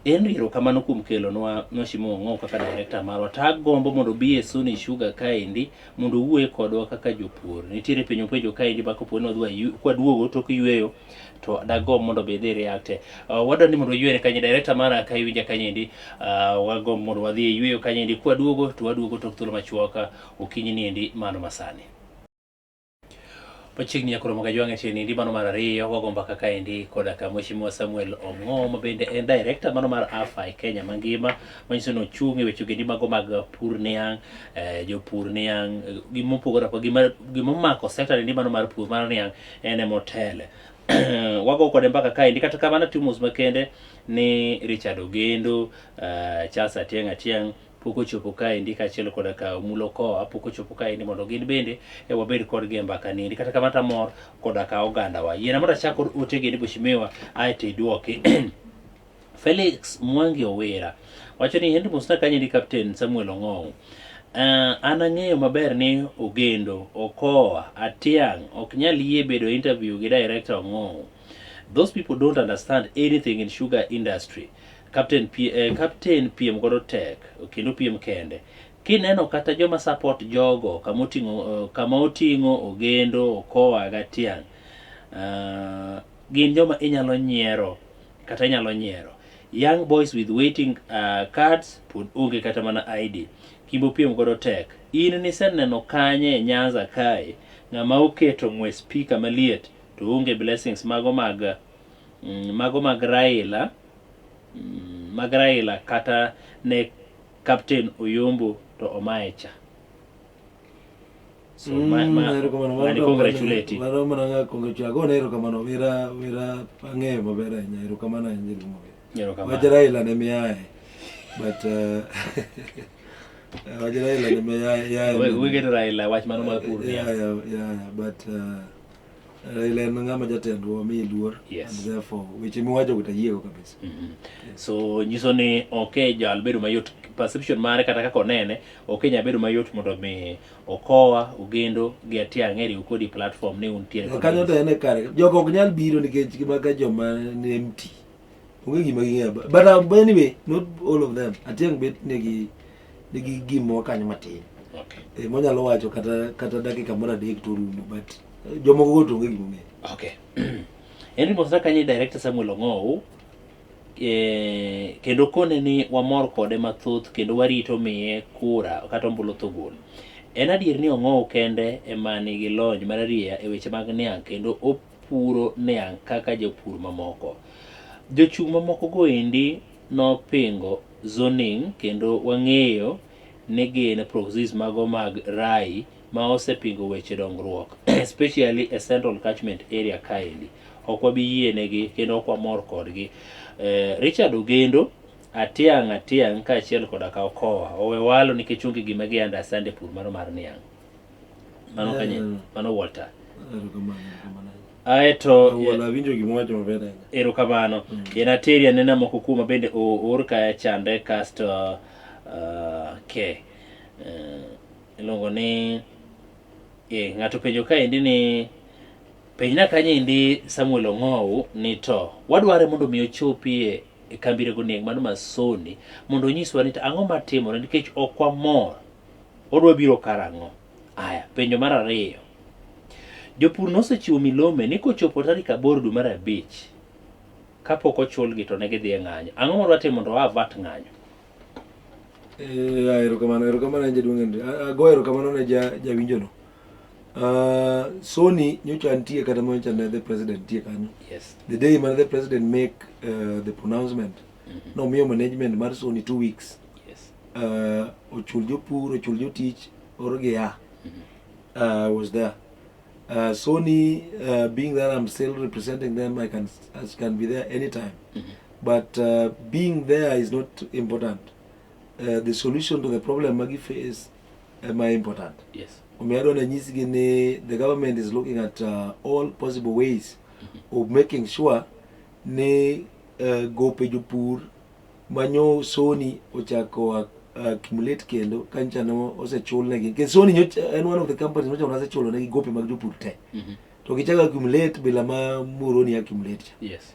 en riro kamano kuom kelo nwa nwashimo ng'o kaka director marwa ta gombo mondo bi e soni sugar kaendi mondo uwuoye kodwa kaka jopur nitiere penjo penjo kaendi bako poni wadwa kwaduogo tok yweyo to dago mondo be idhi reacte uh, wadwa ni mondo oyuene kanye director mara ka iwinja kanyendi uh, wago mondo wadhi e yueyo kanyendi kwaduogo to waduogo tok thuolo machuoka okinyi niendi mano masani machiegni nyakoro moga jwang'e tiyo nindi mano mar ariyo wago mbaka kaendi koda ka mheshimiwa samuel ong'o ma bende en director mano mar afi kenya mangima manyiso ni ochung' e weche ogendi mago mag pur niang' eh, jopur niang' eh, gimopogore apoga gima- gimomako sector nindi mano mar pur mar niang' en ema otele wago kode mbaka kaendi kata kamano atimo mos makende ni richard ogendo uh, charles atieng atieng pok ochopo kaendi kaachiel koda ka omulo koa pok ochopo kaendi mondo gin bende e wabed kodgi e mbaka niendi kata kamano tamor koda ka ogandawa yiena mondo achak kod otegendi boshimiwa aeto idwoki Felix Mwangi Owira wacho ni hend musna kanye ni Captain Samuel Ong'ou. Uh, ah, an ang'eyo maber ni Ogendo, Okoa, Atiang' ok nyal yie bedo e interview gi director Ong'ou. Those people don't understand anything in sugar industry. Captain, P, eh, Captain piem godo tek kendo piem kende kineno kata joma support jogo kama oting'o eh, kama oting'o Ogendo, Okoa, Gatiang' uh, gin joma inyalo nyiero kata inyalo nyiero young boys with waiting uh, cards pod onge kata mana id kimbo piem godo tek in niseneno kanye e nyanza kae ng'ama oketo ng'we spika maliet to onge blessings mago mag mm, mago mag raila mm, mag raila kata ne captain oyombo to omaye cha So mm, ma ma mani congratulate. Mano mana nga congratulate. Ago na erokamano wira wira ang'eyo maber ahinya erokamano ahinya nyiri maber. Erokamano. Wach Raila ne miyaye. But uh, wach Raila ne miyaye. Yeah, we, we get Raila wach mano mar pur. Yeah, yeah, yeah, but uh, Raila en ng'ama jatendwa mi luor yes. and therefore weche miwacho go tayiego kabisa. Mm -hmm. yes. So nyiso ni ok okay, jal bedo mayot perception mare kata kaka onene ok okay, nya bedo mayot mondo mi Okowa, Ogendo gi Atiang' eriw kodi platform ni untiere kod kanyo to en e kare jogo ok nyal biro nikech gimaga joma ni empty onge gima ging'eyo ba- but um, anyway not all of them atiang' bet nigi nigi gimoro kanyo matin Okay. e, monyalo wacho kata kata dakika moro adek to orumo but eh, jomoko go to onge gimong'eyo Okay. Henry Mosaka ni director Samuel Ong'ow Eh, kendo kone ni wamor kode mathoth kendo warito miye kura kata ombulu thugul. En adier ni Ong'ow kende ema nigi lony mararieya e weche mag niang' kendo opuro niang' kaka jopur mamoko. Jochung' mamoko go endi nopingo zoning kendo wang'eyo ni gin proxies mago mag Rai ma osepingo weche dongruok especially e Central Catchment Area kaendi. Ok wabi yienegi kendo ok wamor kodgi. Eh, Richard Ogendo, Atiang' Atiang' kaachiel koda ka Okowa owe walo nikech onge gima gi understand e pur mano mar niang'. Mano kanye, Mm. mano Walter. Erokamano, erokamano. Aeto Awuola, awinjo gima wacho maber ahinya. erokamano Mm. en ateri anena moko kuoma bende o- oor kaya chande kasto uh, ke uh, Iluongo ni eh, ng'ato penjo kaendi ni penjna kanyendi Samuel Ong'ow ni to wadware mondo mi ochopi e kambi rego neng mano masoni mondo onyiswa ni ang'o matimore nikech ok wamor odwa biro karang'o. Aya, penjo mar ariyo. Jopur nosechiwo milome ni kochopo tarik aboro dwe mar abich kapok ochulgi to ne gidhi e ng'anyo. Ang'o ma dwatimo mondo waa vat ng'anyo? Eh, ah, erokamano erokamano ne jaduong' Henry. Ah, ah, go erokamano ne ja jawinjono. Uh, Sony nyocha nitie kata ma nyocha ne the president nitie kanyo. Yes. The day man the president make uh, the pronouncement mm -hmm. nomiyo management mar Sony two weeks. Yes. Uh, ochul jopur, ochul jotich, orogi ya. Mm -hmm. uh, was there. Uh, Sony uh, being that I'm still representing them I can I can be there anytime. Mm -hmm. But uh, being there is not important. Uh, the solution to the problem magi face am I important. Yes. Umeadwa na nyisi gini, the government is looking at uh, all possible ways mm-hmm. of making sure ni uh, gope jopur manyo soni ochako uh, accumulate kendo kancha no osechul negi. Ke soni nyo en one of the companies mocha unase chulo negi gope mag jopur te. Mm -hmm. To kichaka accumulate bila ma muroni accumulate. Yes.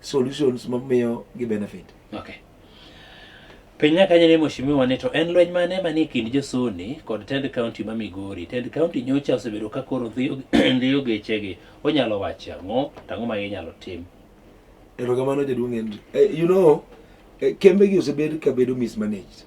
solutions ma miyo gi benefit. Okay. Piny nyaka nyere mheshimiwa ni to en lweny mane manie kind josoni kod tend county ma Migori. Tend county nyocha osebedo ka koro dhiyo dhiyo gechegi. Onyalo wacho ang'o to ang'o ma inyalo tim? Erokamano jaduong' Henry. Eh, you know, eh, kembe gi osebed ka bedo mismanaged.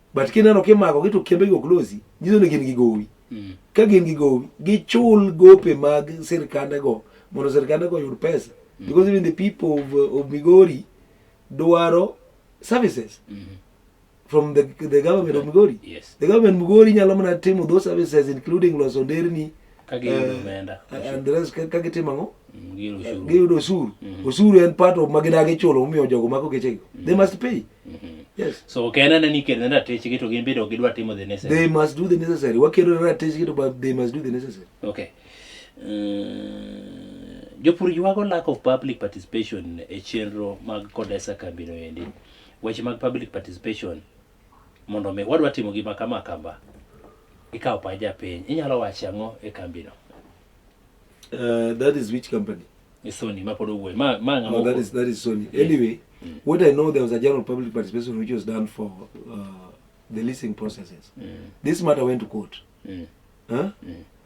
but kineno kimako gi to kembe gi ok losi nyiso ni gin gi gowi mm. ka gin gi gowi gichul gope mag sirkande go mondo sirkande go yud pesa mm. because even the people of, of Migori dwaro services mm -hmm. from the, the government of Migori yes. the government Migori nyalo mana timo those services including loso nderni kagitimo ang'o giyudo osuru mm-hmm. osuru en part of ma gidagi chulo momiyo jogo mako gechego mm-hmm. they must pay mm-hmm. yes so ok en anani kedo ne ratechgi to gin bende ok gidwa timo the necessary they must do the necessary wakedo ne ratechgi to but they must do the necessary okay uh, jopur ywago lack of public participation e chenro mag kodesa kambino endi weche mag public participation mondo mi wadwa timo gima kama kama ikawo pach japiny inyalo wacho ang'o e kambino uh, that is which company e sony mapod owuoyo ma ma no, oh, that is that is sony yes. anyway mm. what i know there was a general public participation which was done for uh, the leasing processes mm. this matter went to court mm. Huh? Mm.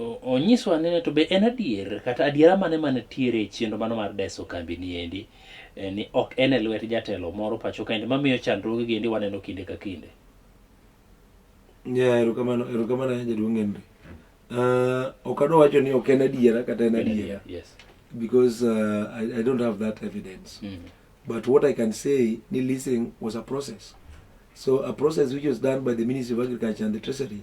Onyiswa ane ni to be en adier kata adiera mane mane tiere e chenro mano mar deso kambi ni endi eh, ni ok en e lwet jatelo moro pacho kaendi mamiyo chandruoge gi endi waneno kinde ka kinde. Yeah, erokamano erokamano ahinya jaduong' Henry. Uh, ok adwa wacho ni ok en adiera kata en adiera. Yes. Because uh, I, I don't have that evidence. Mm. But what I can say ni leasing was a process. So a process which was done by the Ministry of Agriculture and the Treasury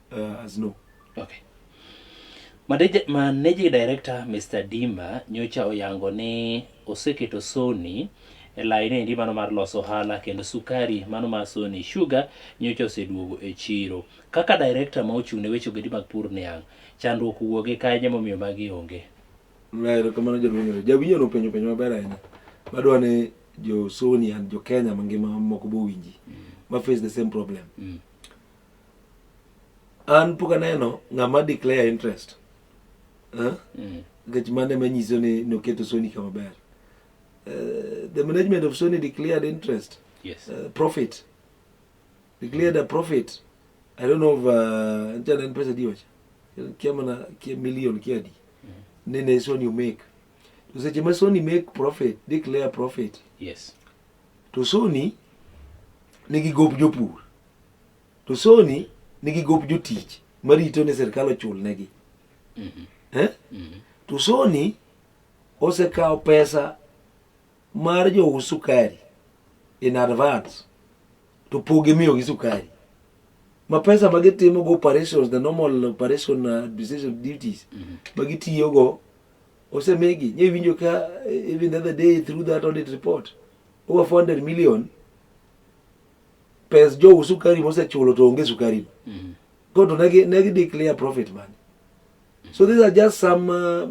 Uh, as no. Okay. Managing Director Mr. Dima nyocha oyango ni oseketo Sony e laini endi mano mar loso ohala kendo sukari mano mar Sony Sugar nyocha oseduogo e chiro. Kaka director ma ochung' ne weche ogedi mag pur niang', chandruok wuoge kanye momiyo magi onge? Ng'ayero kamano jaduong' jawinjo no penjo penjo maber ahinya. Madwa ni jo Sony and jo Kenya mangima moko bowinji. Mm. Ma face the same problem. Mm. an pok aneno ng'ama declare interest eh? mm. nikech mano ema nyiso ni noketo soni kama ber eh, the management of sony declared interest yes. uh, profit declared a profit i don't know of njana uh, pesa diwacha kia mana kia million kia di mm. nene sony you make to seche ma sony make profit declare profit yes to sony nigi gop jopur To Sony nigi gop jotich marito ni sirkal ochulnegi. Mm -hmm. eh? mm -hmm. To Sony osekawo pesa mar jous sukari in advance to pog imiyogi sukari ma pesa ma gitimogo operations the normal operation uh, administration duties mm -hmm. ma gitiyogo osemigi nye winjo ka even the other day through that audit report over 400 million pes jou sukari mosechulo to onge sukari mm. go to negi negi declare profit man so these are just some uh,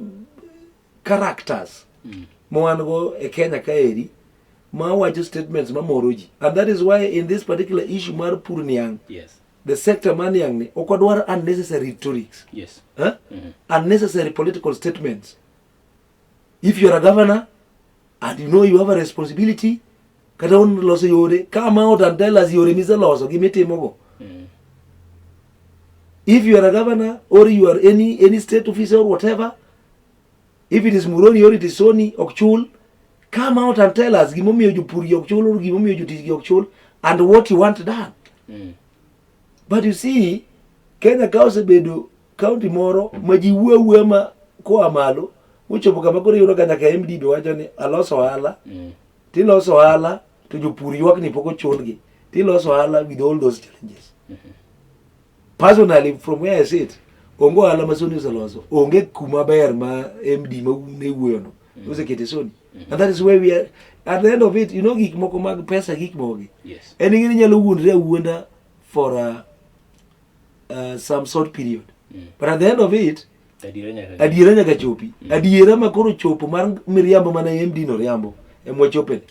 characters mm. mwan go e Kenya kaeri ma wacho statements ma moro ji and that is why in this particular issue mar pur niang yes the sector man niang ni ok odwar unnecessary rhetorics yes huh? mm -hmm. unnecessary political statements if you are a governor and you know you have a responsibility kata un loso yore ka ma ot and tell us yore miseloso gi mitimogo Mm. if you are a governor or you are any any state officer or whatever if it is muroni or it is sony ok chul come out and tell us gimomiyo jopur gi ok chul or gimomiyo jotich gi ok chul and what you want done Mm. but you see kenya ka osebedo kaunti moro ma ji wuo awuoya ma koa malo mochopo kama koro iyudo ka nyaka mdb wacho ni alos ohala Mm. tiloso ohala to jopur ywak ni pok ochulgi tiloso ohala with all those challenges personally from where I sit onge ohala ma Sony oseloso onge kuma ber ma MD ma ne wuoyono mm-hmm. osekete Sony mm-hmm. and that is where we are at the end of it you know gik moko mag pesa gik mogi yes. en ing'e ni nyalo wuondre awuonda for a uh, some short period mm. but at the end of it adiera nyaka chopi mm. adiera ma koro chopo mar miriambo mana e md no riambo emwachopene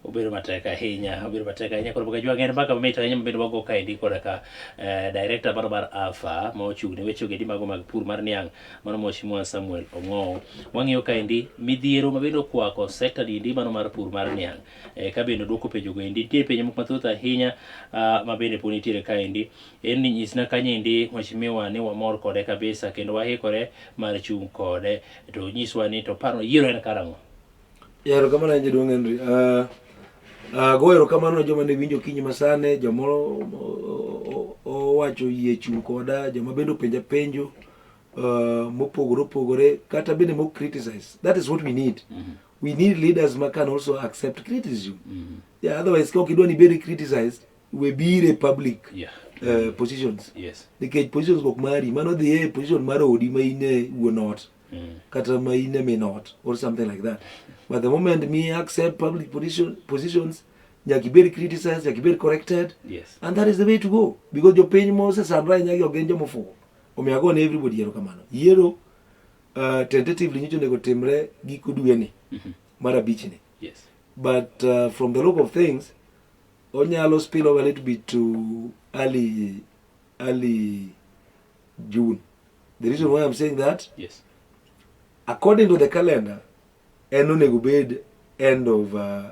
obedo matek ahinya obedo matek ahinya koro bukajua ng'en mbaka mamit ahinya mabedo wago kaendi kod ka eh, director mano mar alpha ma ochung' ne weche ogedi mago mag pur mar niang' mano mheshimiwa samuel ong'owo wang'iyo kaendi midhiero mabende okwako sector dindi mano mar pur mar niang' e, ka bende odwoko penjogo endi nitie penjo moko mathoth ahinya uh, ma bende pod nitiere kaendi en ni nyisna kanyendi mheshimiwa ni wamor kode kabisa kendo wahikore mar chung' kode to nyiswa ni to paro yiero en karang'o yaro kama na jaduong' Henry uh, ah, uh, ah, go erokamano ne joma ne winjo kinyi masane joma owacho yie chung' koda joma bende openja penjo uh, mopogore opogore kata bende mo criticize that is what we need mm -hmm. we need leaders ma can also accept criticism mm -hmm. yeah, otherwise ka ok idwa ni ibedi criticized we bire public yeah. uh, positions yes. nikech positions ok mari mano dhi e position mar odi ma in e wuon ot mm. kata ma in e min ot or something like that but the moment me accept public position, positions nyaka ibed criticized nyaka ibed corrected yes. and that is the way to go because jopiny mosesandore nyagi ok gin jomofuwo Omiyo ago ne everybody erokamano. Yiero uh, tentatively nyicho onego timre giko dwe ni mm -hmm. mar abich ni. Yes. But uh, from the look of things onyalo spill over a little bit to early early June. The reason why I'm saying that yes. According to the calendar en onego bed end of uh,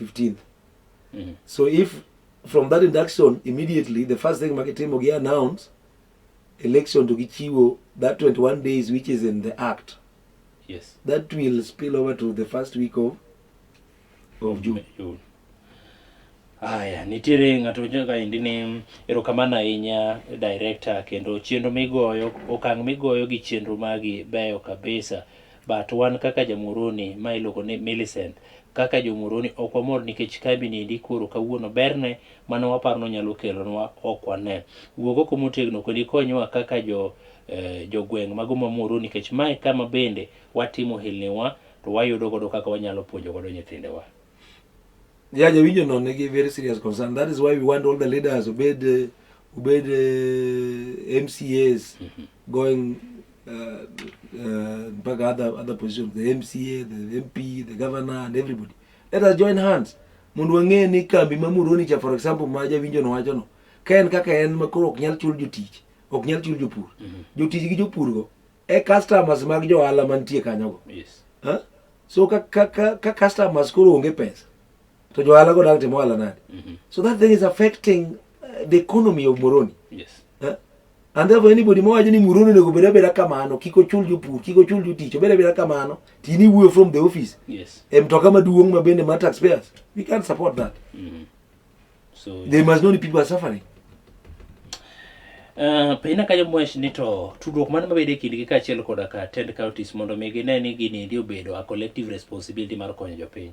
15th mm. so if from that induction immediately the first thing makitimo gi announce election to gichiwo that 21 days which is in the act yes that will spill over to the first week of of june, june. Aya, nitiere ng'ato joka endi ni erokamano ahinya director kendo chenro migoyo okang' migoyo gi chenro magi beyo kabisa But wan kaka jamoroni ma iluongo ni Millicent, kaka jomoroni ok wamor nikech kambi niendi koro kawuono berne mane waparo nonyalo kelonwa ok wane. Wuog oko motegno kendo ikonywa kaka jo eh, jogweng' mago ma Muhoroni nikech mae kama bende watimo hilniwa to wayudo godo kaka wanyalo puonjo godo nyithindewa. Yeah, jawinjo no nigi very serious concern. That is why we want all the leaders obed eh, obed eh, MCAs. Mm -hmm. going uh, uh, back other other positions the MCA the MP the governor and everybody let us join hands mondo wang'e ni kambi ma Muhoroni cha for example ma jawinjo no wacho no ka en kaka en ma koro ok nyal chul jotich ok nyal chul jopur mm -hmm. jotich gi jopur go e customers mag jo ohala mantie kanyo go yes. huh? so ka, ka, ka, ka customers koro onge pesa to jo ohala go dak timo ohala nade mm -hmm. so that thing is affecting uh, the economy of Muhoroni yes. And therefore anybody mawacho ni Muhoroni onego obed abeda kamano, kik ochul jopur, kik ochul jotich, obed abeda kamano, to in iwuoyo from the office. Yes. E mtoka maduong' ma bende ma taxpayers. We can't support that. Mm. So They must know the people are suffering. Uh, pina ka jomwesh ni to tudruok mane mabedo e kindgi kaachiel koda ka tend counties mondo mi gine ni gini ndi obedo a collective responsibility mar konyo jopiny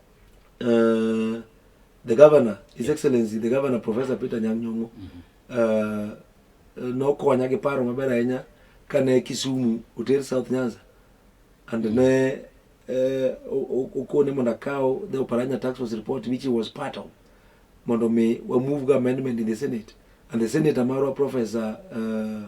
Uh, the governor, His yeah. Excellency, the governor, Professor Peter Nyang'nyong'o, mm -hmm. uh, nokonya gi paro maber ahinya kane Kisumu oter South Nyanza and mm. ne eh, okone mondo akaw the Oparanya tax was report which was part of mondo mi wa move amendment in the Senate and the Senator marwa Professor uh,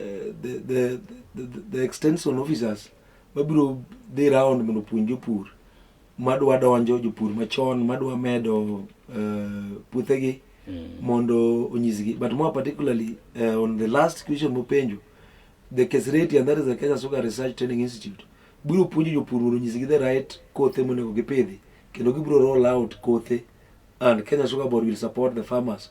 Eh, the, the, the, the extension officers mabiro dhi round mondo opuonj jopur madwa donjo jopur machon madwa medo uh, puothegi mm. mondo onyisgi but more particularly uh, on the last question mopenjo the kesreti and that is the kenya sugar research training institute biro puonjo jopur mondo onyisgi the right kothe monego gipidhi kendo gibiro roll out kothe and kenya sugar board will support the farmers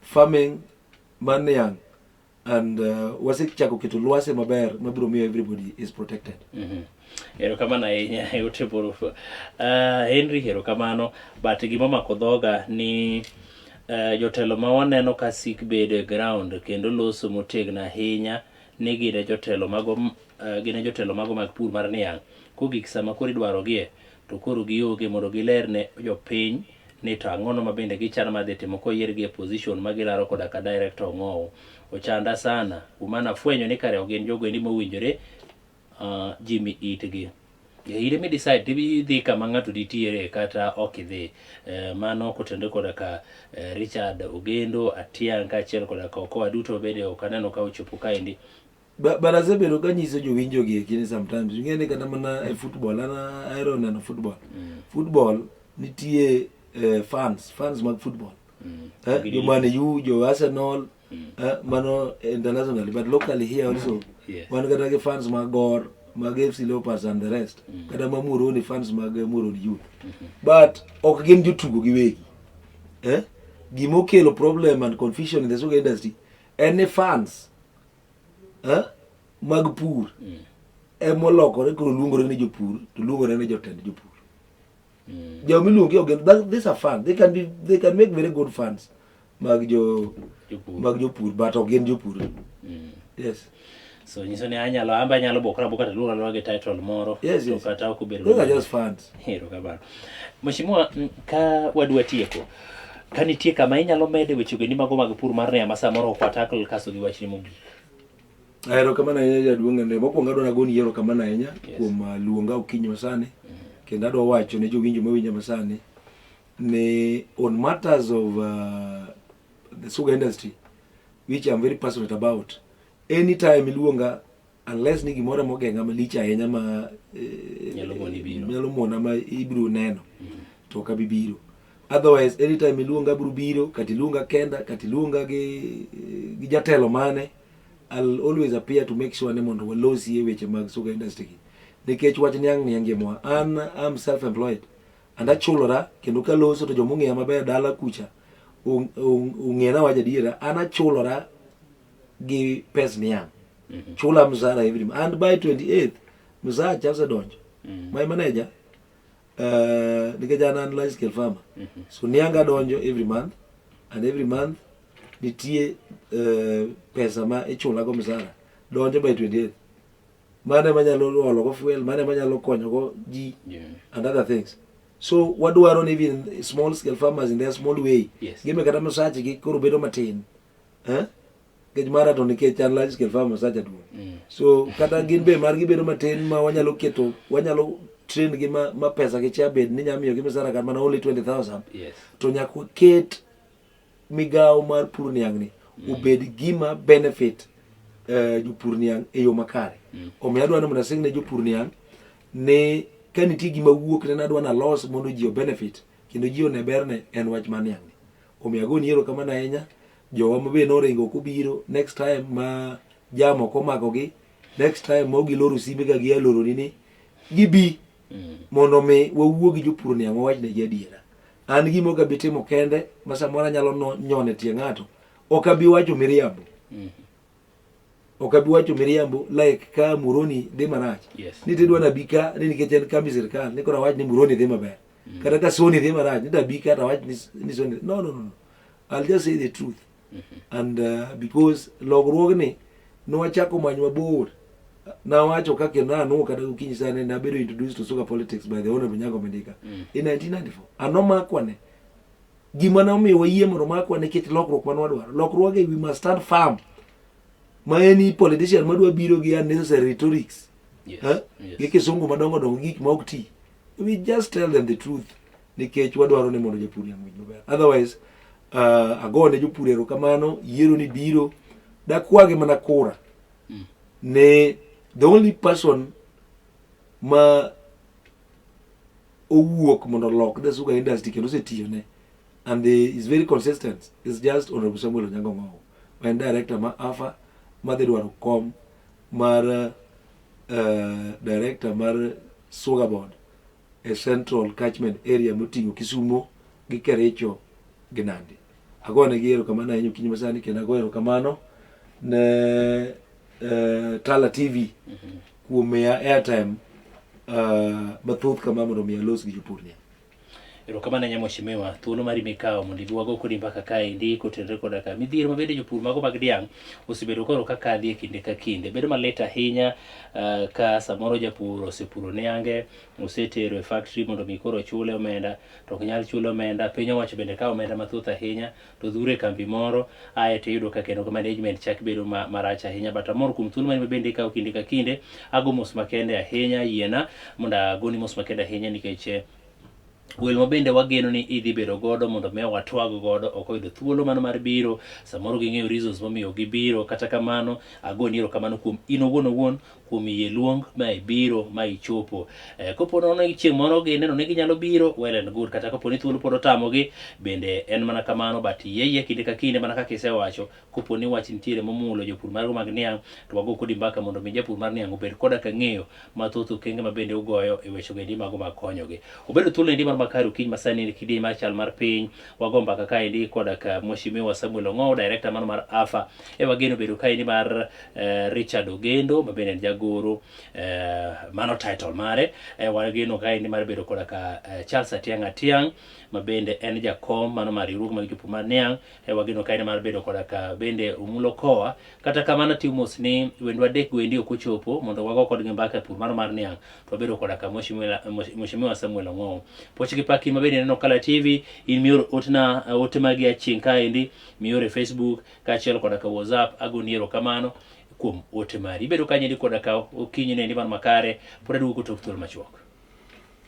farming mar niang' and uh, wasechako keto lwasi maber mabiro miyo everybody is protected mm-hmm. erokamano ahinya e ote borup uh, henry erokamano but gima mako dhoga ni uh, jotelo ma waneno ka sik bedo e ground kendo loso motegno ahinya ni gine jotelo mago uh, gine jotelo mago mag pur mar niang' kogik sama koro idwarogie to koro gionge mondo giler ne jopiny ni to ang'ono ma bende gichano mar dhi timo koyiergi e position ma gilaro koda ka director Ong'owo. Ochanda sana. Kuom mano afwenyo ni kare ok gin jogo endi mowinjore uh, ji mi itgi. Ire mi decide tibi dhi kama ng'ato nitiere kata ok idhi. Eh, mano kotende koda ka eh, Richard Ogendo, Atiang' kaachiel koda ka Okoa duto bende ok aneno ka ochopo kaendi. baraza bedo ka nyiso jowinjo gi ekini sometimes ing'e ni kata mana e football an ahero neno football mm. football nitie eh, fans fans mag football mm. eh, jo man u jo arsenal mm. eh, mano internationally but locally here also mm. yes. wan kata gi fans mag gor mag fc leopards and the rest mm. kata ma moroni fans mag eh, moroni youth mm -hmm. but ok gin jotugo giwegi eh? gima okelo problem and confusion in the soccer industry en ni fans eh, mag pur mm. emolokore koro luongore ni jopur to luongore ni jotend jopur mm. jo miluongi ogen these are fun they can be they can make very good funds mag jo mag jopur but ok gin jopur mm. yes so nyiso ni anyalo amba anyalo bokra boka taluonga lwa gi title moro yes, yes. kata ok obedo those are just funds hero kabaro mheshimiwa ka wadwa tieko Ka nitie kama inyalo mede weche geni mago mag pur mar rea ma samoro ok watakl kaso gi wachni mogik. Ahero kama na inya jaduong' ne mokwongo adwa nagoni yiero kama na inya kuom uh, luonga okinyi masani kendo adwa wacho ne jowinjo mawinja masani ni on matters of uh, the sugar industry which I'm very passionate about anytime iluonga unless ni gimoro mogeng'a malich ahinya ma eh, nyalo mona ma ibiro neno mm. to ok abi biro otherwise anytime iluonga abiro biro kata iluonga kenda kata iluonga gi, eh, gi jatelo mane I'll always appear to make sure ni mondo walosie weche mag soka industry gi nikech wach ni ang' ni angimwa an am self employed and achulora kendo kaloso to jomong'eya maber dala kucha ong'ena waja adiera an achulora gi pes niang' mhm. chula msara every and by 28 msara cha osedonjo mhm. my manager uh, nikech an an life scale farmer mhm. so nianga donjo every month and every month nitie uh, pesa ma ichula go msara donjo by 28 mane manyalo olo go fuel mane manyalo konyo go ji yeah. and other things so wadwaro ni even small scale farmers in their small way yes. gime kata msache gi koro bedo matin eh? nikech mara to nikech an large scale farm osacha duong mm. so kata gin be margi bedo matin ma wanyalo keto wanyalo train gi ma, ma pesa gi cha bed ni nyalo miyo gi misara kata mana only 20000 yes. to nyaka waket migawo mar pur niang' ni mm. obed gima benefit uh, jopur niang' e yo makare mm. omiyo adwa ni mondo asing ne jopur niang' ni ka nitie gima wuok ne nadwa nalos mondo ji obenefit kendo ji one berne en wach ma niang'. Omiyo agoni erokamano ahinya jowa ma be noringo kobiro next time ma jam ok omakogi next time ma giloro simbe ka gia loroni ni gibi mm. mondo mi wawuo gi jopur ni ang'o wachnegi adiera an gima ok abi timo kende ma samoro anyalo nyone tie ng'ato ok abi wacho miriambo mm. ok abi wacho miriambo like ka muroni dhi marach yes. ni tidwa nabi ka ni nikech en kambi sirikal ni koro awach ni muroni dhi maber mm. kata ka soni dhi marach ni tabi ka tawach ni soni no, no, no. I'll just say the truth mm -hmm. and uh, because logruogni nwachako many mabor nawacho ka kendo nanwo kata gokinyi sane nabedo introduced to sugar politics by the honorable nyago mendika mm. in 1994 anomakwane Gima ne omiyo wayie mondo makwa nikech lokruok ma nwadwaro. Lokruoge we must stand firm. Ma en i politician madwa biro gi unnecessary rhetorics. Yes. Eh? Yes. Gi kisungu madongo dongo gik ma ok ti. We just tell them the truth nikech wadwaro ni mondo japur yang' winy maber. Otherwise, uh, ago ne jopur erokamano, yiero ni biro. Dakwagi mana kura. Mm. Ne the only person ma owuok mondo olok the sugar industry kendo osetiyone and the is very consistent is just honorable samuel onyango ng'owo ma en director ma afa madhi dwaro kom mar uh, director mar sugar board e central catchment area moting'o kisumo gi kericho gi nandi agoyo ne gi erokamano ahinya okinyi masani kendo agoyo erokamano ne uh, Tala TV mm -hmm. kuom miya airtime uh, mathoth kama mondo mi alos gi jopur ni. Erokamano ahinya mheshimiwa, thuolo mari mikawo mondo ibi wago kodi mbaka kaendi kotenore koda ka midhiero mabende jopur mago mag dhiang' osebedo koro ka kadhi e kinde ka kinde. Bedo malit ahinya uh, ka samoro japur osepuro niange, osetero e factory mondo mi koro chule omenda, to ok nyal chule omenda, piny owacho bende kawo omenda mathoth ahinya. to dhure kambi moro ae to iyudo ka kendo management chak bedo ma, marach ahinya but amor kuom thuolo mani mabende ikawo kinde ka kinde ago mos makende ahinya yiena mondo agoni mos makende ahinya nikech eh, wel ma bende wageno ni idhi bedo godo mondo mi watwag godo ok oyudo thuolo mano mar biro samoro ging'eyo reasons momiyo gibiro kata kamano agoni erokamano kuom in owuon owuon kuom yie luong ma ibiro ma ichopo. Eh, kopo nono chieng' moro gineno ni ginyalo biro, well and good, kata kopo ni thuolo pod otamogi, bende en mana kamano, but yie yie kinde ka kinde mana kaka isewacho, kopo ni wach nitiere momulo jopur margo mag niang', to wago kodi mbaka mondo mi japur mar niang' obed koda ka ng'eyo mathoth okenge ma bende ugoyo e wechogo endi mago mag konyogi. Obedo thuolo endi mar makari okinyi masani kidieny mar chal mar piny, wago mbaka kaendi koda ka Mheshimiwa Samuel Ong'ow, director mano mar AFA. E wageno bedo kaendi mar eh, Richard Ogendo ma bende en jagoro eh, mano title mare. E wageno kaendi mar bedo koda ka eh, Charles Atiang' Atiang' ma bende en jakom mano mar riwruok mag jopur mar Niang'. E wageno kaendi mar bedo koda ka bende Omulo Koa. Kata kamano atiyo mos ni wendwa adek go endi ok ochopo mondo wago kodgi mbaka e pur mano mar Niang'. to wabedo koda ka Mheshimiwa Samuel Ong'owo. Pochi Kipaki mabende neno Kala TV, in mior otna uh, ote magi aching' kaendi, mior e Facebook kaachiel koda ka WhatsApp, agoni erokamano kuom ote mari. Ibedo kanyo koda ka okinyi ne ni mar makare, pod aduogo kotok thuol machuok.